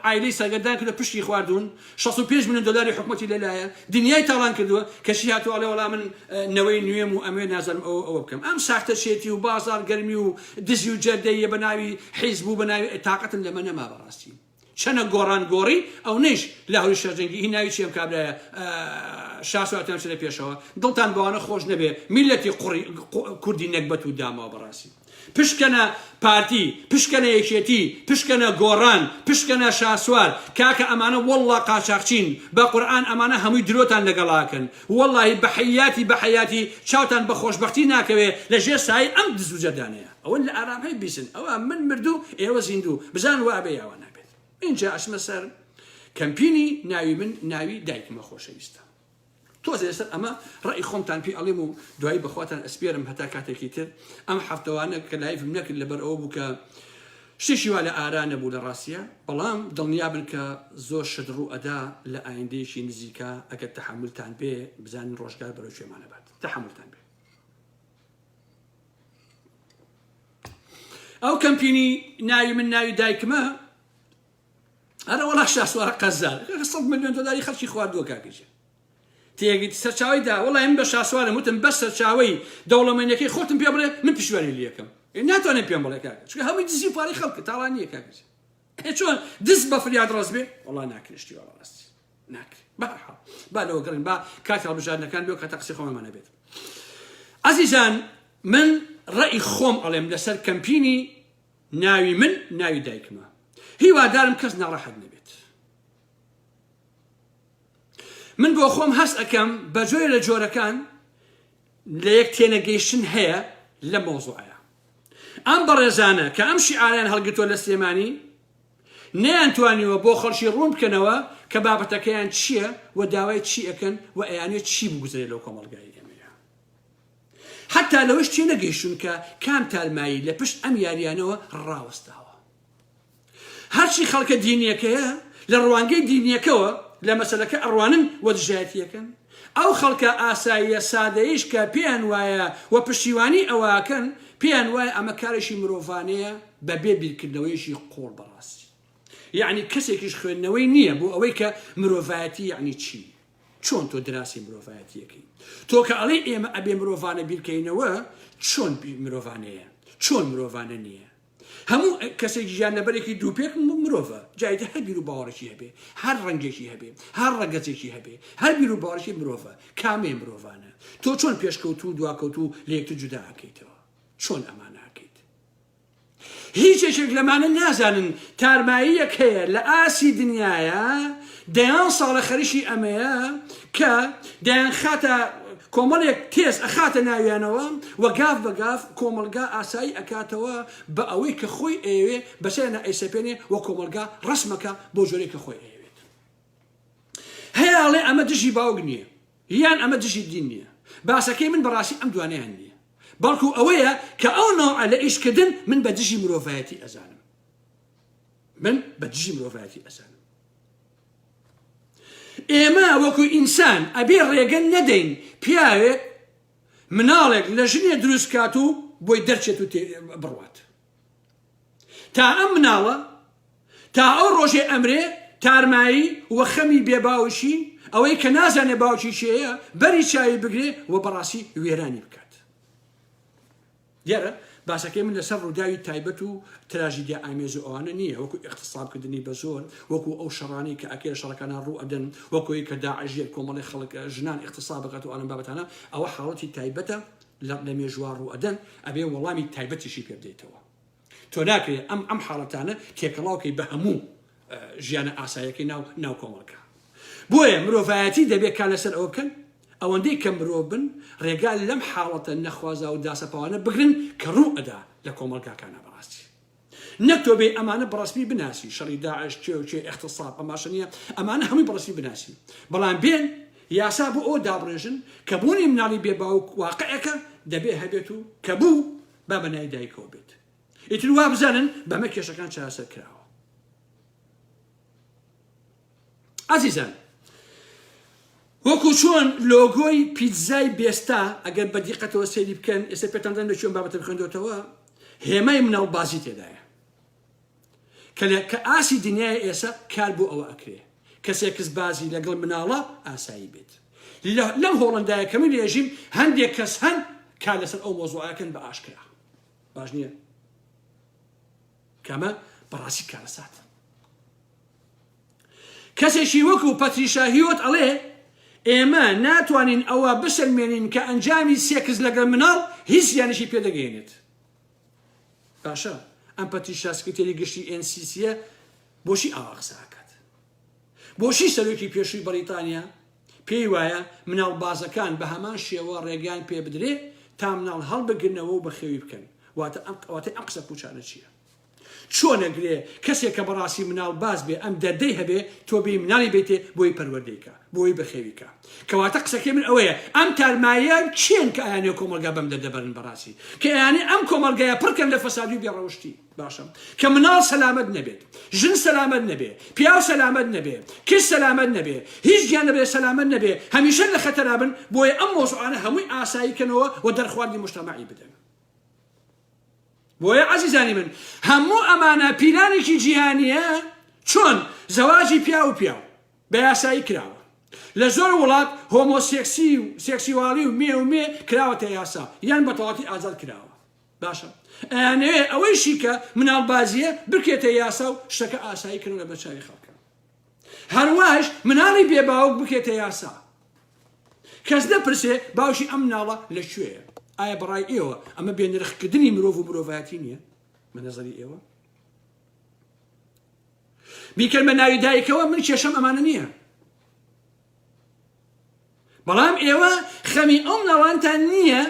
عایلەی سەرگەردان کردە پشتی خواردون 65 ملیۆن دۆلاری حکومەتی لەلایە دنیای تاڵان کردووە کەچی هاتوو ئەڵێ وەڵا من نەوەی نوێم و ئەمێ نازانم ئەوە ئەوە بکەم ئەم ساختەچێتی و بازار گەرمی و دزی و جەردەیە بە ناوی حیزب و بە ناوی تاقەتم لەمە نەما بەڕاستی چەنە گۆڕان گۆڕی ئەونەیش لاهوری شەرجەنگی هی ناوی چی ئەم کابرایە شاسوار تان چنە پێشەوە دڵتان بەوانە خۆش نەبێ میلەتی قوڕی کوردی نەگبەت و داماوە بەڕاستی پشکنە پارتی پشکنە یەکێتی پشکنە گۆڕان پشکنە شاسوار کاکە ئەمانە والله قاچاقچین بە قورئان ئەمانە هەمووی درۆتان لەگەڵاکەن واللهی بەحەیاتی بەحەیاتی چاوتان بە خۆشبەختی ناکەوێ لە ژێر سایەی ئەم دزوجەردانەیە ئەوە لە ئارام هەی بیسن ئەوە من مردوو ئێوە زیندوو بزان وابێ یاوا نابێت ئینجا ئەچمە سەر کەمپینی ناوی من ناوی دایکمە خۆشەویستە تۆزێ سەر ئەمە ڕێی خۆمتان پێ ئەڵێم و دوایی بەخواتان ئەسپێرم هەتا کاتێکی تر ئەم هەفتەوانە کە لایفم نەکرد لەبەر ئەوە بوو کە شتێکی وا لە ئارا نەبوو لە ڕاستیە بەڵام دڵنیا بن کە زۆر شت ڕوو ئەدا لە ئایندەیەکی نزیکە ئەگەر تەحملتان بێ بزانین ڕۆژگار بەرەو شوێمانەبات تەحملتان بێ ئەو کەمپینی ناوی من ناوی دایکمە ئەرە وڵا شاسوارە قەزار سەد ملیۆن دلاری خەڵکی خواردووە کاکەژێ تێگەیت سەرچاوی دا وڵای من بە شاسوارم وتم بە سەرچاوی دەوڵەمەندەکەی خۆتم پێ بڵێ من پشوێنی لەکەم ناتوانێت پێم بڵێ کاکە چکە هەمووی دزی پارەی خەڵکە تاڵان نییە کاکەژێ ئێ چۆن دز بە فریاد ڕەز بێ وەڵا ناکرێ شتی وەڵا ڕاستی ناکرێ بەرحاڵ با لەوە گەڕین با کاتی هەڵبژاردنەکان بێ کاتە قسەی خۆمانمانە بێت ئازیزان من ڕێی خۆم ئەڵێم لەسەر کەمپینی ناوی من ناوی دایکمە هیوادارم کەس ناڕەحەت نەبێت من بۆ خۆم هەست ئەەکەم بە جۆرە لە جۆرەکان لەیەک تێنەگەیشتن هەیە لەم مەوزوعەیا ئەم بەڕێزانە کە ئەم شیعارەیان هەڵگرتوە لە سلێمانی نەیان توانیوە بۆ خەڵکی ڕوون بکەنەوە کە بابەتەکەیان چییە و داوای چی ئەکەن و ئەیانوێت چی بگوزرێت لەو کۆمەڵگای ئێمەیە حتا لەوەش تێنەگەیشتون کە کام تارمایی لە پشت ئەم یاریانەوە ڕاوەستاوە. هەرچی خەڵکە دینیەکەیە لە ڕوانگەی دینیەکەوە لە مەسەلەکە ئەڕوانن و دژایەتی ئەکەن، ئەو خەڵکە ئاساییە سادەیەیش کە پێیان وایە و پشتیوانی ئەوە ئەکەن پێیان وایە ئەمە کارێکی مرۆڤانەیە بە بێ بیرکردنەوەیەکی قووڵ بە ڕاستی یەعنی کەسێکیش خوێندنەوەی نییە بۆ ئەوەی کە مرۆڤایەتی یەعنی چی؟ چۆن تۆ دراسی مرۆڤایەتیەکەی؟ تۆ کە ئەڵێ ئێمە ئەبێ مرۆڤانە بیرکەینەوە چۆن مرۆڤانەیە؟ چۆن مرۆڤانە نییە؟ هەموو کەسێک گیانلەبەرێکی دووپێک مرۆڤە، جا ئیتر هەر بیروباوەڕێکی هەبێ، هەر ڕەنگێکی هەبێ، هەر ڕەگەزێکی هەبێ، هەر بیروباوەڕێکی مرۆڤە، کامەیە مرۆڤانە؟ تۆ چۆن پێشکەوتوو و دواکەوتوو لە یەکتر جودا ئەکەیتەوە؟ چۆن ئەمانە ئەکەیت؟ هیچ یەکێک لەمانە نازانن تارماییەک هەیە لە ئاستی دنیایا دەیان ساڵە خەریکی ئەمەیە کە دەیانخاتە کۆمەڵێک تێز ئەخاتە ناویانەوە و گاف بە گاف کۆمەڵگا ئاسایی ئەکاتەوە بە ئەوەی کە خۆی ئەیەوێ بەسەرنا ئەیسەپێنێ و کۆمەڵگا ڕسمەکە بۆ جۆرێک کە خۆی ئەیەوێت هەیاڵێ ئەمە دژی باوک نییە یان ئەمە دژی دین نییە باسەکەی من بەڕاستی ئەم دوانیان نییە بەڵکو ئەوەیە کە ئەو ناوە لە ئیشکردن من بە دژی مرۆڤایەتی ئەزانم من بە دژی مرۆڤایەتی ئەزانم ئێمە وەکو ئینسان ئەبێ ڕێگەن نەدەین پیاوێک مناڵێک لە ژنێ دروست کات و بۆی دەرچێت و بڕوات تا ئەم مناڵە تا ئەو ڕۆژێ ئەمرێ تارمایی وە خەمی بێ باوشی ئەوەی کە نازانێ باوکی شێەیە بەری چاوی بگرێ و بەڕاستی وێرانی بکات دیارە باسەکەی من لەسەر ڕووداوی تایبەت و تراژیدیا ئامێز و ئەوانە نییە، وەکو ئیغتصاب کردنی بە زۆر، وەکو ئەو شەڕانەی کە ئەکرێ شەڕەکانە ڕوو ئەدەن، وەکو ئەوەی کە داعش ژێر کۆمەڵی خەڵک ژنان ئیغتصاب ئەکات و ئالەم بابەتانە، ئەوە حاڵەتی تایبەتە لە لە مێژووا ڕوو ئەدەن، ئەبێ وەڵامی تایبەتیشی پێ بدەیتەوە. تۆ ناکرێت ئەم ئەم حاڵەتانە تێکەڵاو کەی بە هەموو ژیانە ئاسایەکەی ناو ناو کۆمەڵکە بۆیە مرۆڤایەتی دەبێت کا لەسەر ئەوە بکەن ئەوەندەی کە مرۆ بن ڕێگا لەم حاڵەتە نەخوازا و داسەپاوانە بگرن کە ڕوو ئەدا لە کۆمەڵگاکانە بەڕاستی نەتۆ بێ ئەمانە بڕسمی بناسی شەڕی داعش چێ و چێ اختصاب ئەماشە نیە ئەمانە هەمووی بڕسمی بناسی بەڵام بێن یاسا بۆ ئەو دابڕێژن کە بوونی مناڵی بێ باوک واقعەکە دەبێ هەبێت و کە بوو با بە نای دایکەوە بێت ئیتر وا بزانن بەمە کێشەکان چاسەر کراوە ئازیزان وەکو چۆن لۆگۆی پیتزای بێستا ئەگەر بە دیقەتەوە سەیری بکەن ئێستا پێتاندان لە چۆن بابەتە بخێندۆتەوە هێمای مناڵ بازی تێدایە کە لە کە ئاسی دنیای ئێسە کار بۆ ئەوە ئەکرێ کە سێکس بازی لە گڵ مناڵە ئاسایی بێت لە لەم هۆڵندایە کە من رێژیم هەندێک کەس هەن کار لەسەر ئەو مۆزوعەکەن بە ئاشکرا باش نییە کەمە بەڕاستی کارەسات کەسێکی وەکو پەتریشاهیوت ئەڵێ ئێمە ناتوانین ئەوە بسەلمێنین کە ئەنجامی سێکس لەگەڵ مناڵ هیچ یانشی پێدەگەێنێت باشە ئەم پەتیشا سکرتێری گشتی ئێن سیسیە بۆچی ئاوا قسە ئەکات بۆچی سەرۆکی پێشووی بەریتانیا پێی وایە مناڵ بازەکان بە هەمان شێوە ڕێگەیان پێ بدرێ تا مناڵ هەڵبگرنەوە و بەخێوی بکەن واتە ئەم قواتەی ئەم قسە پوچانە چییە چۆنەگرێ کەسێک کە بەڕاستی مناڵ باز بێ ئەم دەردەی هەبێ تۆ بێ مناڵی بێتێ بۆی پەروەردەیکە بۆی بەخێوی کا. کەواتە قسەکەی من ئەوەیە ئەم تارماییە کێن کە ئەیانەوێ کۆمەڵگا بەم دەردە بەرن بەڕاستی کە ئەیانەوێ ئەم کۆمەڵگایە پڕ کەن لە فەسادی و بێ ڕەوشتی باشە کە مناڵ سەلامەت نەبێت ژن سەلامەت نەبێ پیاو سەلامەت نەبێ کچ سەلامەت نەبێ هیچ گیانەبێ سەلامەت نەبێ هەمیشە لە خەتەرا بن بۆیە ئەم مۆزوعانە هەمووی ئاسایی کەنەوە و دەرخواردی مشتەمەعی بدەن بۆیە عەزیزانی من هەموو ئەمانە پیلانێکی جیهانیە چۆن زەواجی پیاو و پیاو بە یاسایی کراوە. لە زۆر وڵات هۆمۆ سێکسی و سێکسیوالی و مێ و مێ کراوەتە یاسا یان بە تەواتی ئازاد کراوە. باشە ئەیانەوێ ئەوەیشی کە مناڵ بازیە بکرێتە یاسا و شتەکە ئاسایی کردن لە بەرچاوی خەڵکە. هەرواش مناڵی بێ باوک بکرێتە یاسا. کەس نەپرسێ باوشی ئەم ناڵە لە کوێیە ئایا بەڕای ئێوە ئەمە بێنرخکردنی مرۆڤ و مرۆڤایەتی نییە بە نظری ئێوە بیکەن بە ناوی دایکەوە من کێشەم ئەمانە نییە بەڵام ئێوە خەمی ئەو مناڵانتان نییە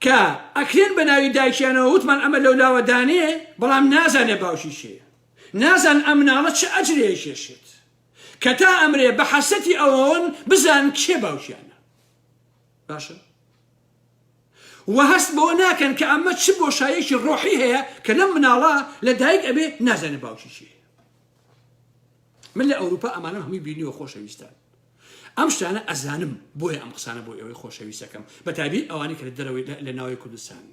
کە ئەکرێن بە ناوی دایکیانەوە وتمان ئەمە لەو لاوە دانێ بەڵام نازانێ باوشی شێ نازان ئەم مناڵە چ ئەجرێ کێشێت کە تا ئەمرێ بە حەسەتی ئەوەن بزان کێ باوکیانە باشە وە هەست بەوە ناکەن کە ئەمە چ بۆشاییەکی ڕۆحی هەیە کە لەم مناڵە لە دایک ئەبێ نازانێ باوکی کێیە من لە ئەوروپا ئەمانەم هەمووی بینیوە خۆشەویستان ئەم شتانە ئەزانم بۆیە ئەم قسانە بۆ ئێوەی خۆشەویستەکەم بەتابی ئەوانی کە لە دەرەوەی لە ناوی کوردستان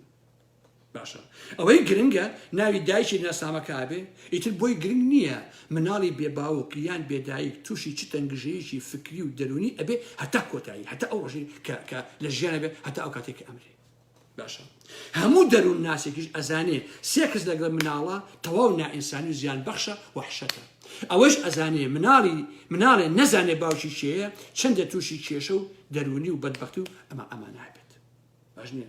باشە ئەوەی گرنگە ناوی دایکی ناسنامە کابێ ئیتر بۆی گرنگ نییە مناڵی بێ باوک یان بێدایک تووشی چ تەنگژەیەکی فکری و دەرونی ئەبێ هەتا کۆتایی هەتا ئەو ڕژی کە کە لە ژیانە بێ هەتا ئەو کاتێک کە ئەمرێ باشە هەموو دەروون ناسێکیش ئەزانێ سێکس لەگەڵ مناڵە تەواو نائینسانی و زیان بەخشە وحشەتە ئەوەش ئەزانێ مناڵی مناڵێ نەزانێ باوکی شێەیە چەندە تووشی کێشە و دەرونی و بەدبختی و ئەمە ئەمانابێت باش نیە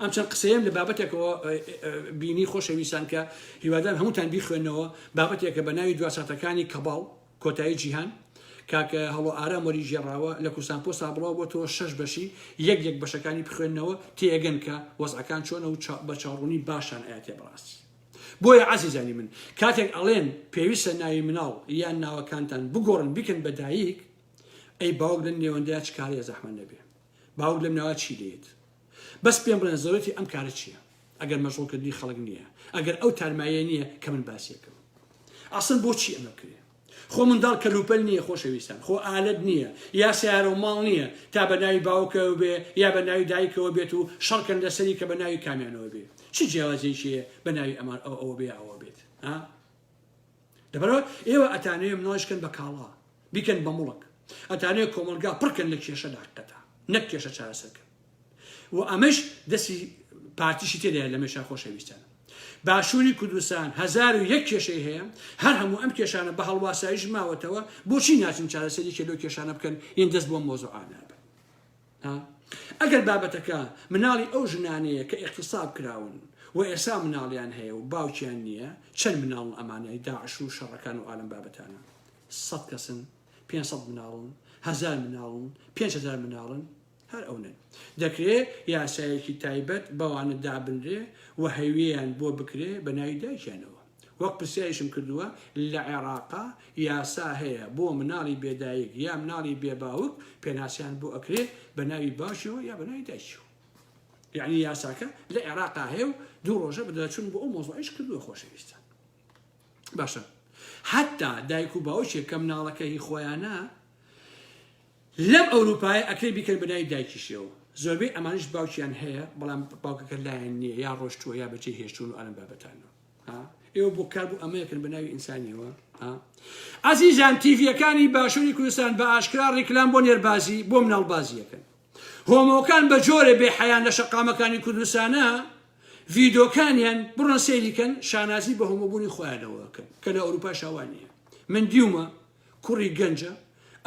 ئەم چەند قسەیەم لە بابەتێکەوە بینی خۆشەویستان کە هیوادان هەمووتان بیخوێنەوە بابەتێکە بە ناوی دواساتەکانی کەباڵ کۆتایی جیهان کاکە هەڵۆ ئارام وەری ژێڕاوە لە کوردستان پۆستا بڵاو بۆ تۆ شەش بەشی یەک یەک بەشەکانی بخوێنەوە تێگەن کە وەزعەکان چۆنە و بە چاڕوونی باشان ئاەتێ بڕاستی بۆیە عزیزانی من کاتێک ئەڵێن پێویستە ناوی مناڵ یان ناوەکانتان بگۆڕن بیکەن بە دایک ئەی باوک لە نێوەندەیە چکارەیە زەحمە نەبێ باوک لەم ناوە چی دەیەت؟ بەس پێم بڵێن زەرورەتی ئەم کارە چیە ئەگەر مەشغول کردنی خەڵک نیە ئەگەر ئەو تارمایە نیە کە من باسیەکەم ئاسن بۆچی ئەمە بکرێ خۆ منداڵ کەلوپەل نییە خۆشەویستان خۆ ئالەت نییە یا سیارە و ماڵ نییە تا بە ناوی باوکەوە بێ یا بە ناوی دایکەوە بێت و شەڕکەن لەسەری کە بە ناوی کامیانەوە بێ چ جیاوازێکیە بە ناوی ئەمان ئەو ئەوە بێ ئەوە بێت ها لەبەرئەوە ئێوە ئەتانەوێ مناڵیش کەن بە کاڵا، بیکەن بە مڵک، ئەتانەوێ کۆمەڵگا پڕ کەن لە کێشە داککەتا، نەک کێشە چارەسەر کەن و ئەمەش دەستی پارتیشی تێدایە لەمێشا خۆشەویستان. باشووری کوردستان هەزار و یەک کێشەی هەیە، هەر هەموو ئەم کێشانە بە هەڵواساییش ماوەتەوە، بۆچی ناچن چارەسەر یەکێ لەو کێشانە بکەن یەن دەست بۆ ئەم مەوزوعانە بەن؟ ئا ئەگەر بابەتەکە مناڵی ئەو ژنانەیە کە ئیغتصاب کراون و ئێسا مناڵیان هەیە و باوکیان نیە چەند مناڵن ئەمانەی داعش و شەڕەکان و ئالەم بابەتانە سەد کەسن پێنج سەد مناڵن هەزار مناڵن پێنج هەزار مناڵن هەر ئەو نەن دەکرێ یاسایەکی تایبەت بەوانە دابنرێ و هەویەیان بۆ بکرێ بە ناوی دایکیانەوە وەک پرسیاریشم کردووە لە عێڕاقا یاسا هەیە بۆ مناڵی بێ دایک یا مناڵی بێ باوک پێناسیان بۆ ئەکرێ بە ناوی باوکیەوە یا بە ناوی دایکیەوە یعنی یاساکە لە عێراقا هەیە و دوو ڕۆژە بدەچون بۆ ئەو مۆزۆعیش کردووە خۆشەویستان باشە حتا دایک و باوکێک کە مناڵەکە هی خۆیانە لەم ئەوروپای ئەکرێ بیکەن بەنای دایکیشەوە زۆربەی ئەمانش باوکیان هەیە بەڵام باوکەکە لایەن نییە یا ڕۆشتووە یا بەجێ هێشتون و ئەلم بابەتانەوە ئێوە بۆ کار بۆ ئەمەیەکن بە ناوی ئینسانیەوە ئازیزان تیڤەکانی باشووری کوردستان بە ئاشکرا ڕیکلام بۆ نێربازی بۆ مناڵبازیەکەن هۆمۆکان بە جۆرێ بێ حەیان لە شەقامەکانی کوردستانە ڤیدۆکانیان بڕۆن سەیریکەن شانازی بە هۆمۆبوونی خۆیانەوەکەن کە لە ئەوروپا شاوانە من دیومە کوڕی گەنجە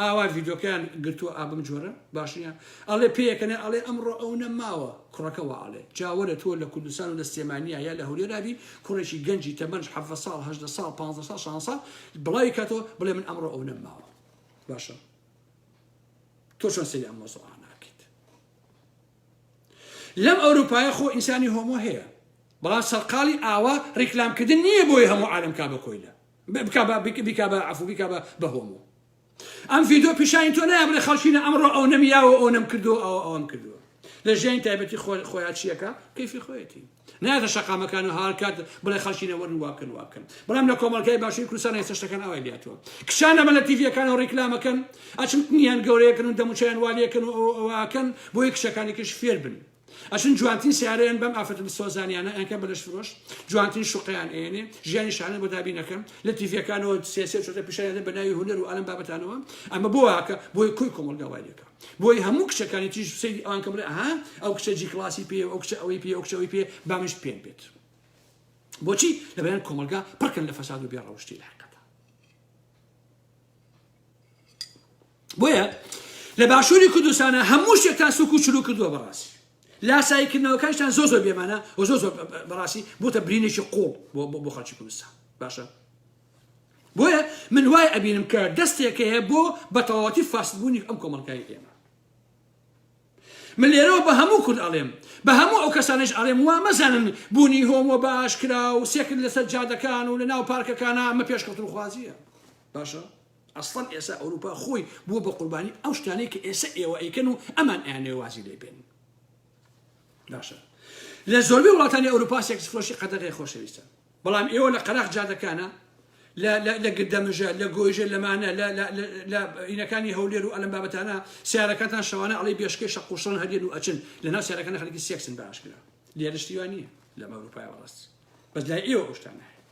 ئاوا ڤیدۆکەیان گرتوە ئابم جۆرە باشنیە ئەڵێ پێیەکەنێ ئەڵێ ئەمڕۆ ئەو نە ماوە کوڕەکە وا ئەڵێ جاوەرە تۆ لە کوردستان و لە سلێمانیا یا لە هەولێرابی کوڕێکی گەنجی تەمەنج حەڤە ساڵ هەژدە ساڵ پ ساڵ شان ساڵ بڵاوی کاتەوە بڵێ من ئەمڕۆ ئەو نە ماوە باشە تۆ چۆن سری ئەم مۆزۆ ناکەیت لەم ئەوروپایە خۆ ئینسانی هۆمۆ هەیە بەڵام سەرقاڵی ئاوا ڕیکلامکردن نییە بۆی هەموو عالم کا بە کۆیلە بکە بە بک بیکە بە عەفو بیکە بە بە هۆمۆ ئەم ڤیدۆ پیشانی تۆ نایە بڵێ خەڵکینە ئەمڕۆ ئەو نەمیاوە ئەو نەم کردو ئەو ئەوم کردووە لە ژیانی تایبەتی خۆ خۆیان چیەکە کەیفی خۆیەتی نایەتە شەقامەکان و هاڵکات بڵێ خەڵکینە وەرن واکەن واکەن بەڵام لە کۆمەڵگای باشووری کوردستان هێستا شتەکان ئاوای لاتوە کچان ئەمە لە تیڤیەکان و ڕیکلامەکەن ئەچن تنیان گەورەیەکن و دەموچیان والیەکەن و ئەوەکەن بۆی کچەکانێکیش فێر بن ئەچن جوانترین سیارەیان بەم ئافرەتە دلسۆزانیانە ئەنکەن بە لەشفرۆش جوانترین شوقەیان ئێنێ ژیانی شانە بۆ دابی نەکەن لە تیڤەکانەوە سیاسیە چۆتە پیشانیان بە ناوی هونەر و ئالم بابەتانەوە ئەمە بۆ واکە بۆی کوی کۆمەلگا وای لەکە بۆی هەموو کچەکانی تیژ سەیری ئەوان کە بڵێ ئەها ئەو کچە جی کلاسی پێ ئەو کچە ئەوەی پێ ئەو کچەوەی پێ بامشت پێم بێت بۆچی لەبەیان کۆمەلگا پڕکەن لە فەساد و بێڕەوشتی لە حقەت بۆیە لە باشووری کوردستانە هەموو شتێکتان سوک و چلو کردووە بەڕاستی لاسایی کردنەوەکانشتان زۆ زۆر بێمانە و زۆ زۆر بەڕاستی بۆتە برینێکی قوڵ بۆ خەڵکی کوردستان باشە بۆیە من وای ئەبینم کە دەستێک هەیە بۆ بەتەواتی فاسبوونی ئەم کۆمەلگای ئێمە من لێرەوە بە هەموو کورد ئەڵێم، بە هەموو ئەو کەسانەیش ئەڵێم وا مەزانن بوونی هۆمۆ بە ئاشکرا و سێکس لەسەر جادەکان و لەناو پارکەکانا ئەمە پێشکەوتنخوازییە. باشە ئەسڵەن ئێسا ئەوروپا خۆی بووە بە قوربانی ئەو شتانەی کە ئێسە ئێوە ئەیکەن و ئەمان ئەیانەوێ وازی لێ بێنن. باشە لە زۆربەی وڵاتانی ئەوروپا سێکس فرۆشی قەدەغەیە خۆشەویستان. بەڵام ئێوە لە قەراخ جادەکانە، لە لە لە گردەمژە، لە گۆیژە، لەمانە، لە لە لە لە ینەکانی هەولێر و ئەلەم بابەتانە سەیارەکانتان شەوانە ئەڵێی بێشکەی شەق و شڕن هەر یەن و ئەچن، لە ناو سەیارەکانە خەریکی سێکسن بە ئاشکرا. لێرە شتی وا نییە لەم ئەوروپایە بەڕاست بەس لای ئێوە ئەو شتانە هەیە.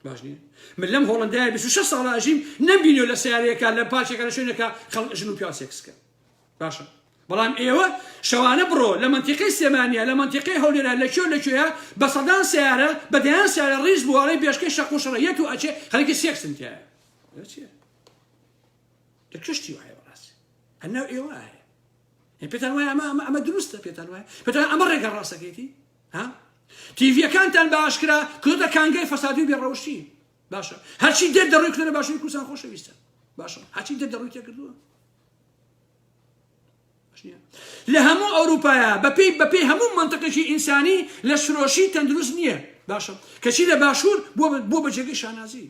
باش نییە من لەم هۆڵەندایە 26 ساڵە ئەژیم نەمبینیوە لە سەیارەیەکە لە پارکێکە لە شوێنێکە خەڵک ژن و پیاو سێکس کەن. باشە بەڵام ئێوە شەوانە بڕۆ لە منتیقەی سێمانە لە منتیقەی هەولێرە لە کوێ لە کوێە بە سەدان سیارە بە دەیان سیارە ڕیز بووڵی بێشکەی شەق و شڕەیەت و ئەچێ خەرکی سێکسن تیا لە کوشتی وایە بەڕاست ئەناو ئێوە هەیە پێتان وایە ئەمە ئەمە ئەمە دروستە پێتان وایە پێتان ئەمە ڕێگە ڕاستەکەیتی ها تیڤەکانتان بە ئاشکرا کردە کانگای فەسادی و بێڕەوشتی باشە هەرچی دێت دەڕووی کردە باشوی کوردستان خۆشەویستە باشە هەچی دێت دەڕووی تێکردووە لە هەموو ئەوروپایە بەپێی بەپێی هەموو منتەقێکی ئینسانی لە سرۆشی تەندروست نییە باشە کەچی لە باشوور بۆ بە جێگەی شانازی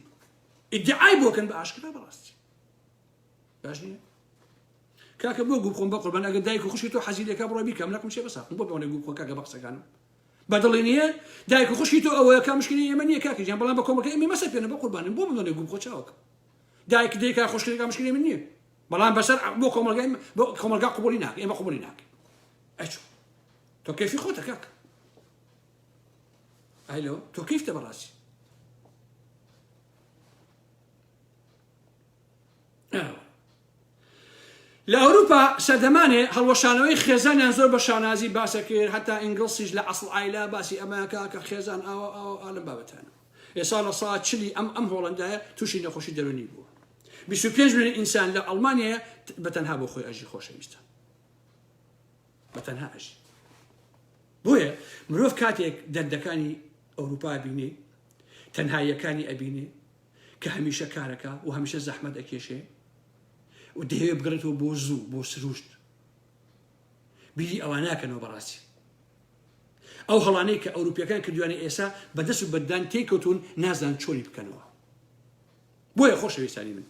ئیدعای بۆکەن بە ئاشکرا بەڕاستی باش نییە کاکە بۆ گوو خۆم بە قوربان ئەگە دایک و خوشی تۆ حەزیلەکە بڕۆ بیکەم لەکم شێ بەسا بۆ بەڵێ گوو خۆ کاکە بە قسەکانم بەدڵی نییە دایک و خوشی تۆ ئەوەیە کا مشکلی ئێمە نییە کاکە جان بەڵام بە کۆمەکە ئێمە مەسە پێێنە بە قوربانم بۆ منڵێ گوو خۆ چاوکە دایک دێکا خوشکەکە مشکلی من نییە بەڵام بەسەر بۆ کۆمەلگای بۆ کۆمەلگا قوبولی ناکە ئێمە قوبولی ناکە ئەچ تۆ کەفی خۆتە کاکە ئایلۆ تۆ کەیفتە بەڕاستی لە ئەوروپا سەردەمانێ هەڵوەشانەوەی خێزانیان زۆر بە شانازی باسەکرد هەتا ئینگلسیش لە ئەسڵ ئایلا باسی ئەمەکە کە خێزان ئاوە ئاوە ئالم بابەتانە ئێسا لە سا چلی ئەم ئەم هۆڵندایە تووشی نەخۆشی دەرونی بوو بیست و پێنج ملیۆن ئینسان لە ئەڵمانیایە بە تەنها بۆ خۆی ئەژی خۆشەویستە بە تەنها ئەژی بۆیە مرۆڤ کاتێک دەردەکانی ئەوروپا بینێ تەنهاییەکانی ئەبینێ کە هەمیشە کارەکە و هەمیشە زەحمەت ئەکێشێ و دەیەوێ بگرێتەوە بۆ زوو بۆ سروشت بیری ئەوان ناکەنەوە بەڕاستی ئەو هەڵانەی کە ئەوروپیەکان کردوانە ئێسا بەدەست و بەدان تێکەوتون نازان چۆنی بکەنەوە بۆیە خۆشەویستانی من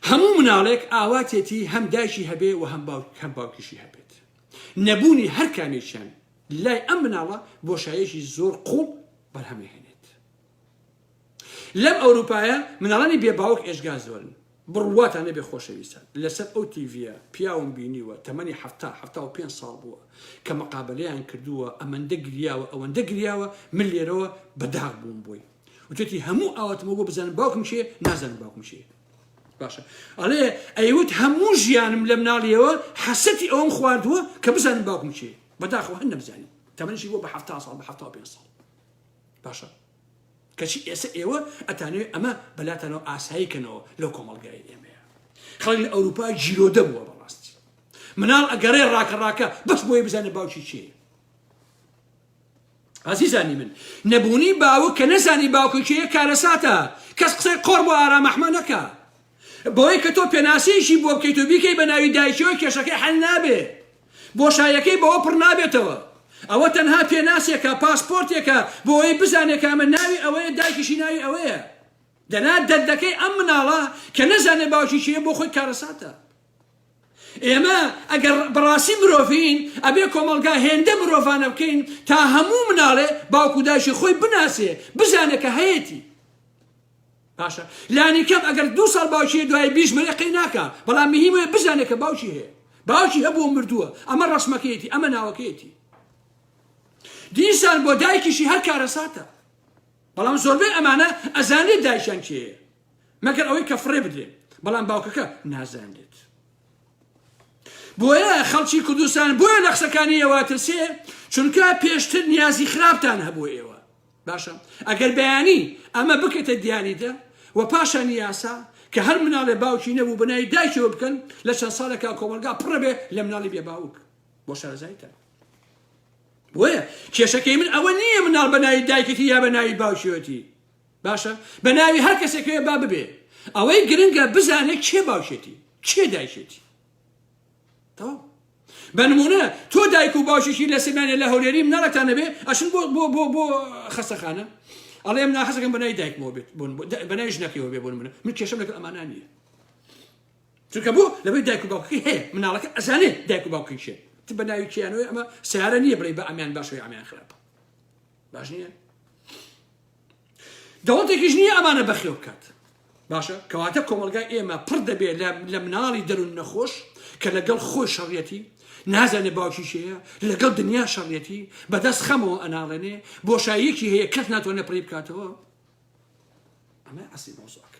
هەموو مناڵێک ئاواتێتی هەم دایکی هەبێ و هەم باوک هەم باوکیشی هەبێت نەبوونی هەر کامێکیان لای ئەم مناڵە بۆشایەکی زۆر قوڵ بەرهەمەهێنێت لەم ئەوروپایە مناڵانی بێ باوک ئێشگا زۆرن بڕواتان نەبێ خۆشەویستان لەسەر ئەو تیڤە پیاوم بینیوە تەمەنی هەفتا هەفتا و پێ ساڵ بووە کە مەقابلیان کردووە ئەمەندە گریاوە ئەوەندە گریاوە من لێرەوە بەداغ بووم بووی وتوێتی هەموو ئاواتمە بۆ بزانم باوکم کێ نازانم باوکم کێ باشە ئەڵێ ئەیوت هەموو ژیانم لە مناڵیەوە حەسەتی ئەوم خواردووە کە بزانم باوکم کێ بەداخەوە هەر نەبزانم تەمەنشی بۆ بە ه ساڵ بە ه پێ ساڵ باشە کەچی ئێستا ئێوە ئەتانوێ ئەمە بەلاتانەوە ئاسایی کەنەوە لەو کۆمەڵگای ئێمەیە خەڵک لە ئەوروپا گیرۆدە بووە بەڕاستی مناڵ ئەگەڕێ ڕاکە ڕاکە بەس بۆی بزانێت باوکی چێ ئازیزانی من نەبوونی باوک کە نەزانی باوکە کێیە کارەساتە کەس قسەی قۆڕ بۆ ئارام ئەحمە نەکا بەوەی کە تۆ پێناسەیەکی بۆ بکەیت و بیکەی بە ناوی دایکیەوە کێشەکەی حەل نابێ بۆشایەکەی بەوە پڕ نابێتەوە ئەوە تەنها پێناسێکە پاسپۆرتێکە بۆەوەی بزانێ کە ئەمە ناوی ئەوەیە دایکیشی ناوی ئەوەیە دەنا دەردەکەی ئەم مناڵە کە نەزانێ باوکی کێ بۆ خۆی کارەساتە ئێمە ئەگەر بەڕاستی مرۆڤین ئەبێ کۆمەڵگا هێندە مرۆڤانە بکەین تا هەموو مناڵێ باوکو دایشی خۆی بناسێ بزانێ کە هەیەتی باشە لانی کەم ئەگەر دو ساڵ باوکی دوای بیش مەێ قەی ناکە بەڵام مهمە بزانێ کە باوکی هەیە باوکی هەبوو مردووە ئەمە ڕسمەکەیەتی ئەمە ناوەکەیەتی دیسان بۆ دایکیشی هەر کارەساتە بەڵام زۆربەی ئەمانە ئەزانێت دایشان کێ مەگەر ئەوەی کە فڕێ بدرێ بەڵام باوکەکە نازانێت بۆیە خەڵکی کوردستان بۆیە لە قسەکانی ئێوە ترسێ چونکە پێشتر نیازی خراپتان هەبوو ئێوە باشە ئەگەر بەیانی ئەمە بکەێتە دیاریدە و پاشان یاسا کە هەر مناڵێ باوکی نەبوو بنای دایکەوە بکەن لە چەند ساڵێکا کۆمەلگا پڕبێ لە مناڵی بێ باوک بۆ شارەزایتە بۆیە کێشەکەی من ئەوە نییە مناڵ بەناوی دایکەتی یا بەناوی باوکیەتی باشە بە ناوی هەر کەسێکەوێ با ببێ ئەوەی گرنگە بزانێت کێ باوشێتی کێ دایشێتی تەواو بەنمونە تۆ دایک و باشێکی لە سمانێ لە هەولێری مناڵەکتان نەبێ ئەشن بۆ بۆ بۆ بۆ خەسەخانە ئەڵێ من ناخەزەکەم بەنای دایکمەوە بێت بوون بەنای ژنەکەەوە بێ بوون منە من کێشم لەگەڵ ئەمانە نییە چونکە بۆ لەبێ دایک و باوکی هەیە مناڵەکە ئەزانێ دایک و باوکی شێ ت بە ناوی کیانەوەی ئەمە سیارە نییە بڵێ بە ئەمیان باشەوەی ئەمیان خراپە باش نییە دەوڵەتێکیش نییە ئەمانە بەخێو بکات. باشە کەواتە کۆمەڵگای ئێمە پڕ دەبێ لە مناڵی دەرون نەخۆش کە لەگەڵ خۆی شەڕیەتی نازانێ باوکی کێیە لەگەڵ دنیا شەڕیەتی بەدەست خەمەوە ئەناڵێنێ بۆشاییەکی هەیە کەس ناتوانێت پڕی بکاتەوە ئەمە ئەسی مۆزۆک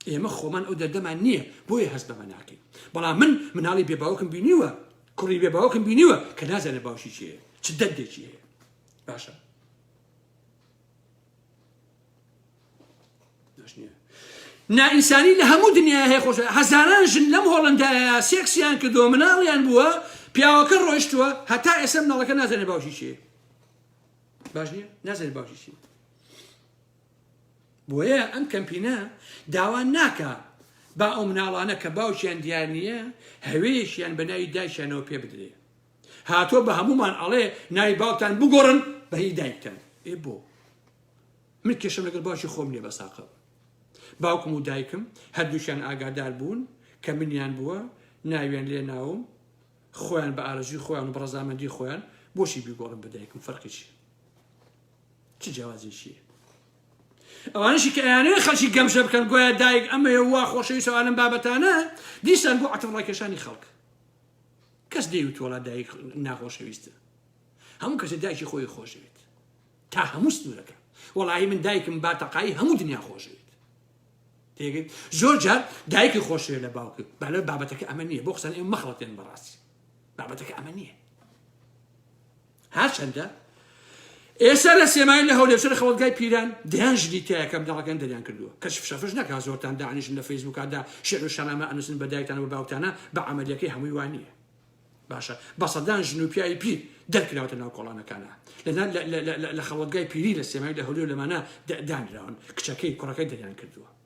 ئێمە خۆمان ئەو دەردەمان نییە بۆیە هەست بەمە ناکەین بەڵام من مناڵی بێ باوکم بینیوە کوڕی بێ باوکم بینیوە کە نازانێت باوکی کێیە چ دەردێکی هەیە باشە نائینسانی لە هەموو دنیا هەیە خۆش هەزاران ژن لەم هۆڵندایە سێکسیان کردووە مناڵیان بووە پیاوەکە ڕۆیشتووە هەتا ئێسم ناڵەکە نازانێ باوشی چێ باش نیە نازانێ باوشی چی بۆیە ئەم کەمپینە داوا ناکە با ئەو مناڵانە کە باوشیان دیار نییە هەوێشیان بەناوی دایشانەوە پێ بدرێ هاتوە بە هەموومان ئەڵێ ناوی باوکتان بگۆڕن بە هی دایکتان ئێ بۆ من کێشم لەگەڵ باوکی خۆم نیە بەساقە باوکم و دایکم هەردووکیان ئاگادار بوون کە منیان بووە ناویان لێ ناوم خۆیان بە ئارەزوی خۆیان و بڕزامەندی خۆیان بۆشی بیگۆڕم بە دایکم فەرقیشی چ جیاوازێکیە ئەوانشی کە ئەیانەیە خەڵکی گەمژە بکەن گوایە دایک ئەمەیە وا خۆشەویست و ئالم بابەتانە دیسان بۆ عتم ڕاکێشانی خەڵک کەس دەیوت وڵا دایک ناخۆشەویستە هەموو کەسە دایکی خۆی خۆشەوێت تا هەموو سنوورەکە وەڵی من دایکم باتەقای هەموو دنیا خۆشەوێت تێگەیت زۆر جار دایکی خۆشەوێت لە باوکی بەلە بابەتەکە ئەمە نییە بۆ قسەن ئێ مەخڵەتێن بەڕاستی بابەتەکە ئەمە نییە هەرچەندە ئێستا لە سێمای لە هەولێرشەر خەڵگای پیران دەیان ژدی تایە کە بنەڕەکەن دەریان کردووە کەش فشەفش نەکا زۆرتان دانیشن لە فەیسبووکدا شعر و شەنامە ئەنووسن بە دایکتان و باوکتانە بە عملیەکەی هەمووی وانە باشە بە سەدان ژن و پیاوی پیر دەرکراوتە ناو کۆڵانەکانە لە خەڵگای پیری لە سێمای لە هەولێر لەمانە دانراون کچەکەی کوڕەکەی دەریان کردووە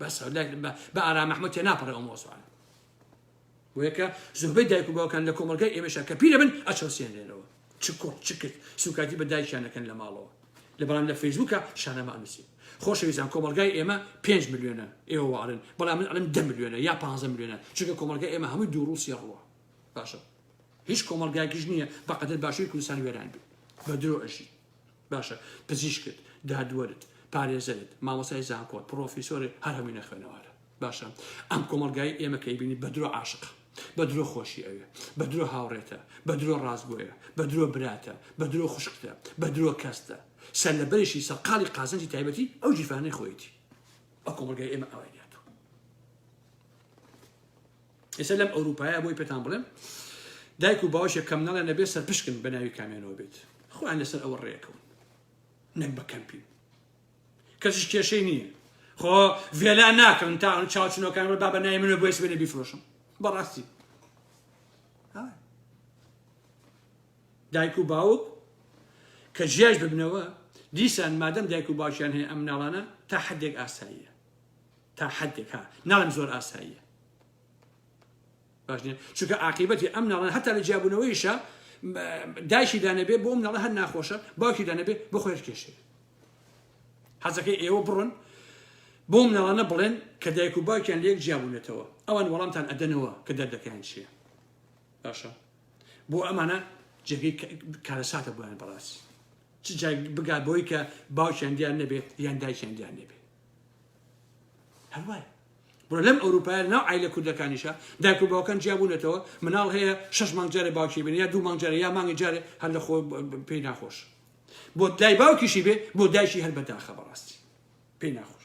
بەس بە ئارام محمود تێ ناپەڕێ ئەو مۆزوعانە وەکە زۆربەی دایک و باوکان لە کۆمەلگای ئێمەشە کە پیرە بن ئەچەوسێنێنەوە چ کوڕ چ کرد سوکایتی بە دایکیانەکەن لە ماڵەوە لە بەڵام لە فەیسبووکە شانەمە ئەنووسی خۆشەویستان کۆمەلگای ئێمە 5 ملیۆنە ئێوە وارن بەڵام من ئەڵم ده ملیۆنە یا 15 ملیۆنە چونکە کۆمەلگای ئێمە هەمووی دوو ڕووسی ڕووە باشە هیچ کۆمەلگایکیش نییە بەقەدر باشووی کوردستان وێران بێ بە درۆ ئەژی باشە پزیشکت، دادوەرت، پارێزەرت، مامۆستای زانکۆت، پڕۆفیسۆرت هەر هەمووی نەخوێنەوارە. باشە ئەم کۆمەڵگایەی ئێمە کە ئەیبینی بە درۆ عاشقە، بە درۆ خۆشی ئەوێ، بە درۆ هاوڕێتە، بە درۆ ڕاستگۆیە، بە درۆ براتە، بە درۆ خوشکتە، بە درۆ کەستە، سەرلەبەریشی سەرقاڵی قازانجی تایبەتی ئەو گیرفانەی خۆیەتی. ئەو کۆمەڵگای ئێمە ئاوای دەهاتوو. ئێستا لەم ئەوروپایە بۆی پێتان بڵێم دایک و باوشێک کەم نەڵێ نەبێت سەرپشکن بە ناوی کامێنەوە بێت خۆیان لەسەر ئەوە ڕێکەون نەک بە کەمپی کەسیش کێشەی نییە خۆ ڤێلا ناکەن تا ئەو چاوچنەکان ڕێ بابە نای منە بۆیس بێنە بیفرۆشم بەڕاستی دایک و باوک کە جیاش ببنەوە دیسان مادەم دایک و باوکیان هەیە ئەم ناڵانە تا حدێک ئاساییە تا حەدێک ها ناڵێم زۆر ئاساییە باش نیە چونکە عاقیبەتی ئەم ناڵە هەتا لە جیابوونەوەیشە دایشی دانەبێ بۆم ناڵە هەر ناخۆشە باوکی دانەبێ بۆ خۆێر کێشێ حەزەکەی ئێوە بڕۆن بۆم ناڵانە بڵێن کە دایک و باوکیان لەک جیابوونێتەوە ئەوان وەڵامتان ئەدەنەوە کە دەردەکەیان چییە باشە بۆ ئەمانە جێگەی کارەساتە بۆیان بەڕاست چ جای بگات بەوەی کە باوکیان دیار نەبێت یان دایکیان دیار نەبێت هەروایە بۆ لەم ئەوروپای ناو ئایلە کوردەکانیشە دایک و باوکان جیابوونەتەوە مناڵ هەیە شش مانگجارە باوکی بن یا دوو مانگجارە یا مانگی جارێ هەر لە خۆ پێی ناخۆش بۆ دای باوکیشی بێ بۆ دایکی هەر بەداخە بەڕاستی پێی ناخۆش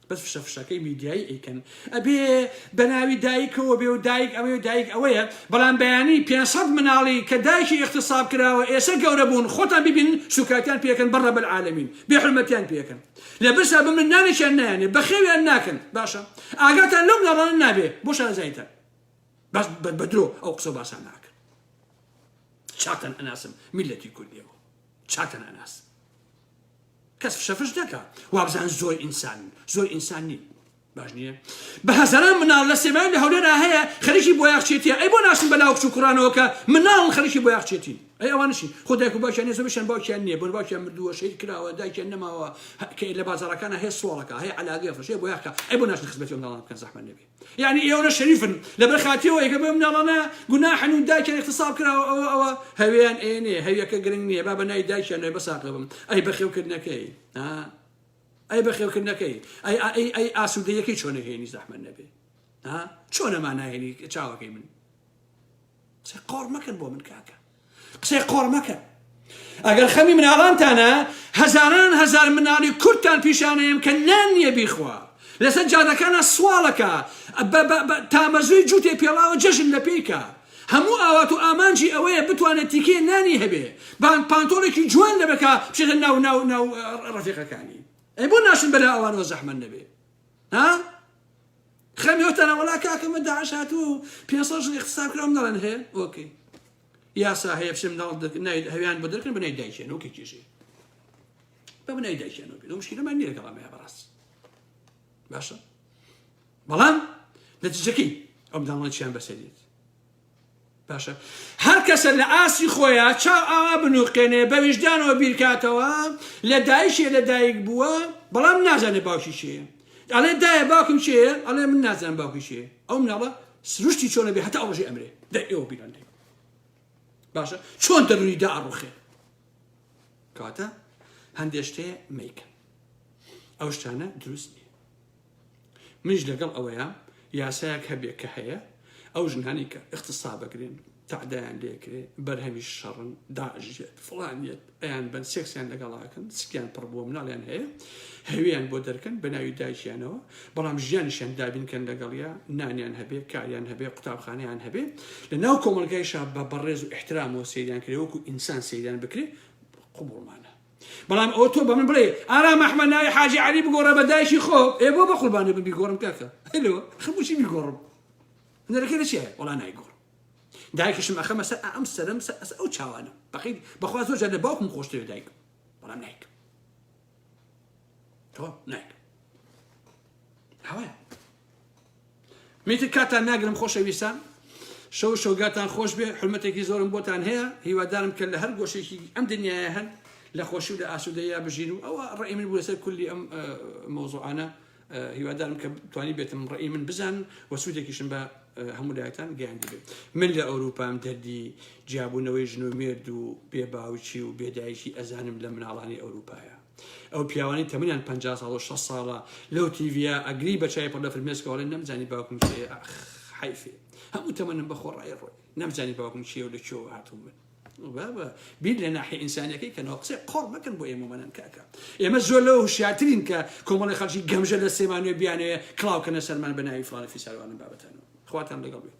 بەس فشە فشەکەی میدیایی ئەیکەن ئەبێ بەناوی دایکەوە بێ و دایک ئەوەی و دایک ئەوەیە بەڵام بەیانی 500 مناڵی کە دایکی اختصاب کراوە ئێسە گەورە بوون خۆتان ببین سوکایتیان پێکەن بەڕە بەل عالمین بێ حرمەتیان پێکەن لە برسا بمن نانێکیان نایانێ بەخێویان ناکەن باشە ئاگاتان لەو مناڵانە نابێ بۆ شارەزایتان بەس بەدرۆ ئەو قسە باسان ناکەن چاتان ئەناسم میلەتی کوردیەوە چاتان ئەناسم کەس فشە فش نەکا وابزان زۆر ئینسانن زۆر ئینسان نین باش نییە بە هەزاران مناڵ لە سێمای لە هەولێرا هەیە خەریکی بۆ یاخچێتیە ئەی بۆ ناشن بە لاوکچ و کوڕانەوە کە مناڵ خەریکی بۆ یاخچێتی ئەی ئەوانشی خۆ دایک و باکیان نێزە بشن باکیان نییە بۆن باکیان مردووە شەید کراوە دایکیان نەماوە کە لە بازارەکانە هەیە سوڵەکە هەیە علاگەیە فشێ بۆ یاخکە ئەی بۆ ناشن خزمەتی ئەو مناڵان بکەن زەحمە نەبێ یانی ئێوەە شەریفن لەبەر خاتری ئەوەی کە بۆ مناڵانە گوناحن و دایکیان اغتصاب کراوە ئەوە ئەوە هەوێیان ئێنێ هەویەکە گرنگ نییە با بە نای دایکیان نوێ بەساقە بم ئەی بەخێوکردنەکەی ها ئەی بەخێوکردنەکەی ئەی ئەی ئەی ئاسوودەیەکەی چۆنەکەی نی زەحمە نەبێ ها چۆنە مانایێنی چاوەکەی من قسەی قۆڕ مەکەن بۆ من کاکە قسەی قۆڕ مەکەن ئەگەر خەمی مناڵانتانە هەزاران هەزار مناڵی کوردتان پیشانەیەم کە نان نییە بیخوا لەسەر جادەکانە سواڵەکە تامەزوی جووتێ پێڵاوە جەژن لە پێیکە هەموو ئاوات و ئامانجی ئەوەیە بتوانێت تیکێ نانی هەبێ بان پانتۆڵێکی جوان لەبەکە بچێتە ناو ناو ناو ڕفیقەکانی ئەی بۆ ناشن بەلا ئەوانەوە زەحمە نەبێ ها خەمی ئەو تەنە وەڵا کاکە مە داعش هاتووە و پێنسەد ژن اختصاب کراوم دەڵێن هەیە ئۆکەی یاسا هەیە بچم ناڵ نای هەویان بۆ دەرکن بنای دایکێن ئۆکەی کێشێ بە بنای دایکێن ئۆکەی لەو مشکلەمان نییە لەگەڵ ئەمەیە بەڕاست باشە بەڵام نەتیجەکەی ئەو منداڵانە چیان بەسەریت باشە هەر کەسە لە ئاستی خۆیا چاو ئاوا بنووقێنێ بە ویژدانەوە بیرکاتەوە لە دایکێ لە دایک بووە بەڵام نازانێ باوکی چێ ئەڵێ دایە باوکم چێ ئەڵێ من نازانم باوکی چێ ئەو مناڵە سروشتی چۆنە بێ هەتا ئەوڕژی ئەمرێ دەر ئێوە بیران لێ باشە چۆن دەرونی دا ئەڕوخێ کاتە هەندێشتێ میکە ئەو شتانە دروست نیە منیش لەگەڵ ئەوەیە یاسایەک هەبێ کە هەیە ئەو ژنانی کە اختصابەگرن تعدایان لێکرێ بەرهەمی شەڕن داژێت فڵانیت ئەیان بەن سێکسیان لەگەڵاکەن سکیان پڕ بووە مناڵیان هەیە هەویان بۆ دەرکەن بە ناوی دایکیانەوە بەڵام ژیانیشیان دابینکەن لەگەڵیا نانیان هەبێ کاریان هەبێ قوتابخانیان هەبێ لە ناو کۆمەلگایشا بە بەڕێز و احترام و سەیریان کرێ وەکو ئینسان سەیریان بکرێ قوبڵمانە بەڵام ئەوە تۆ بەمن بڵێ ئارام ئەحمەد ناوی حاجی عەلی بگۆڕە بە دایکی خۆ ئێ بۆ بە قوربانێ ببی گۆڕم کاکە هەلۆ خەموچی بیگۆڕم نەرەکە لە چیە وەڵا نایگۆڕم دایکشم ئەخەمە سەر ئەم سەرم سەر ئەس ئەو چاوانم بەقی بەخوا زۆر جار لە باوکم خۆشترێ دایکم بەڵام نایکم تەواو نایکەم هەوایە میتر کاتان ناگرم خۆشەویستان شەو شۆگاتان خۆش بێ حرمەتێکی زۆرم بۆتان هەیە هیوادارم کە لە هەر گۆشێکی ئەم دنیاە هەن لە خۆشی لە ئاسوودەیە بژین و ئەوە ڕێ من بوو لەسەر کولی ئەم مۆزۆانە هیوادارم کە توانی بێتم ڕێ من بزان و سوودێکیشم بە هەموو لایەتان گەیاندی بێت من لە ئەوروپام دەردی جیابوونەوەی ژن و مێرد و بێباوچی و بێدایکی ئەزانم لە مناڵانی ئەوروپایە ئەو پیاوانەی تەمەنیان پەنجا ساڵ و شەست ساڵە لەو تیڤە ئەگری بە چای پڕ لە فرمێسکەوە ئەڵێن نەمزانی باوکم کێیە ئاخ حەیفێ هەموو تەمەنم بە خۆڕای ڕۆی نەمزانی باوکم چییە و لە کوێوە هاتووم من بابە بیر لە ناحی ئینسانیەکەی کەنەوە قسەی قۆڕ مەکەن بۆ ئێمەمەەن کاکە ئێمە زۆر لەوە هوشیارترین کە کۆمەڵی خەڵکی گەمژە لە سێمانوێ بیانەیە کڵاوکەنە سەرمان بە ناوی فڵانە فیساروانم بابەتانەوە خواتان لەگەڵ بێت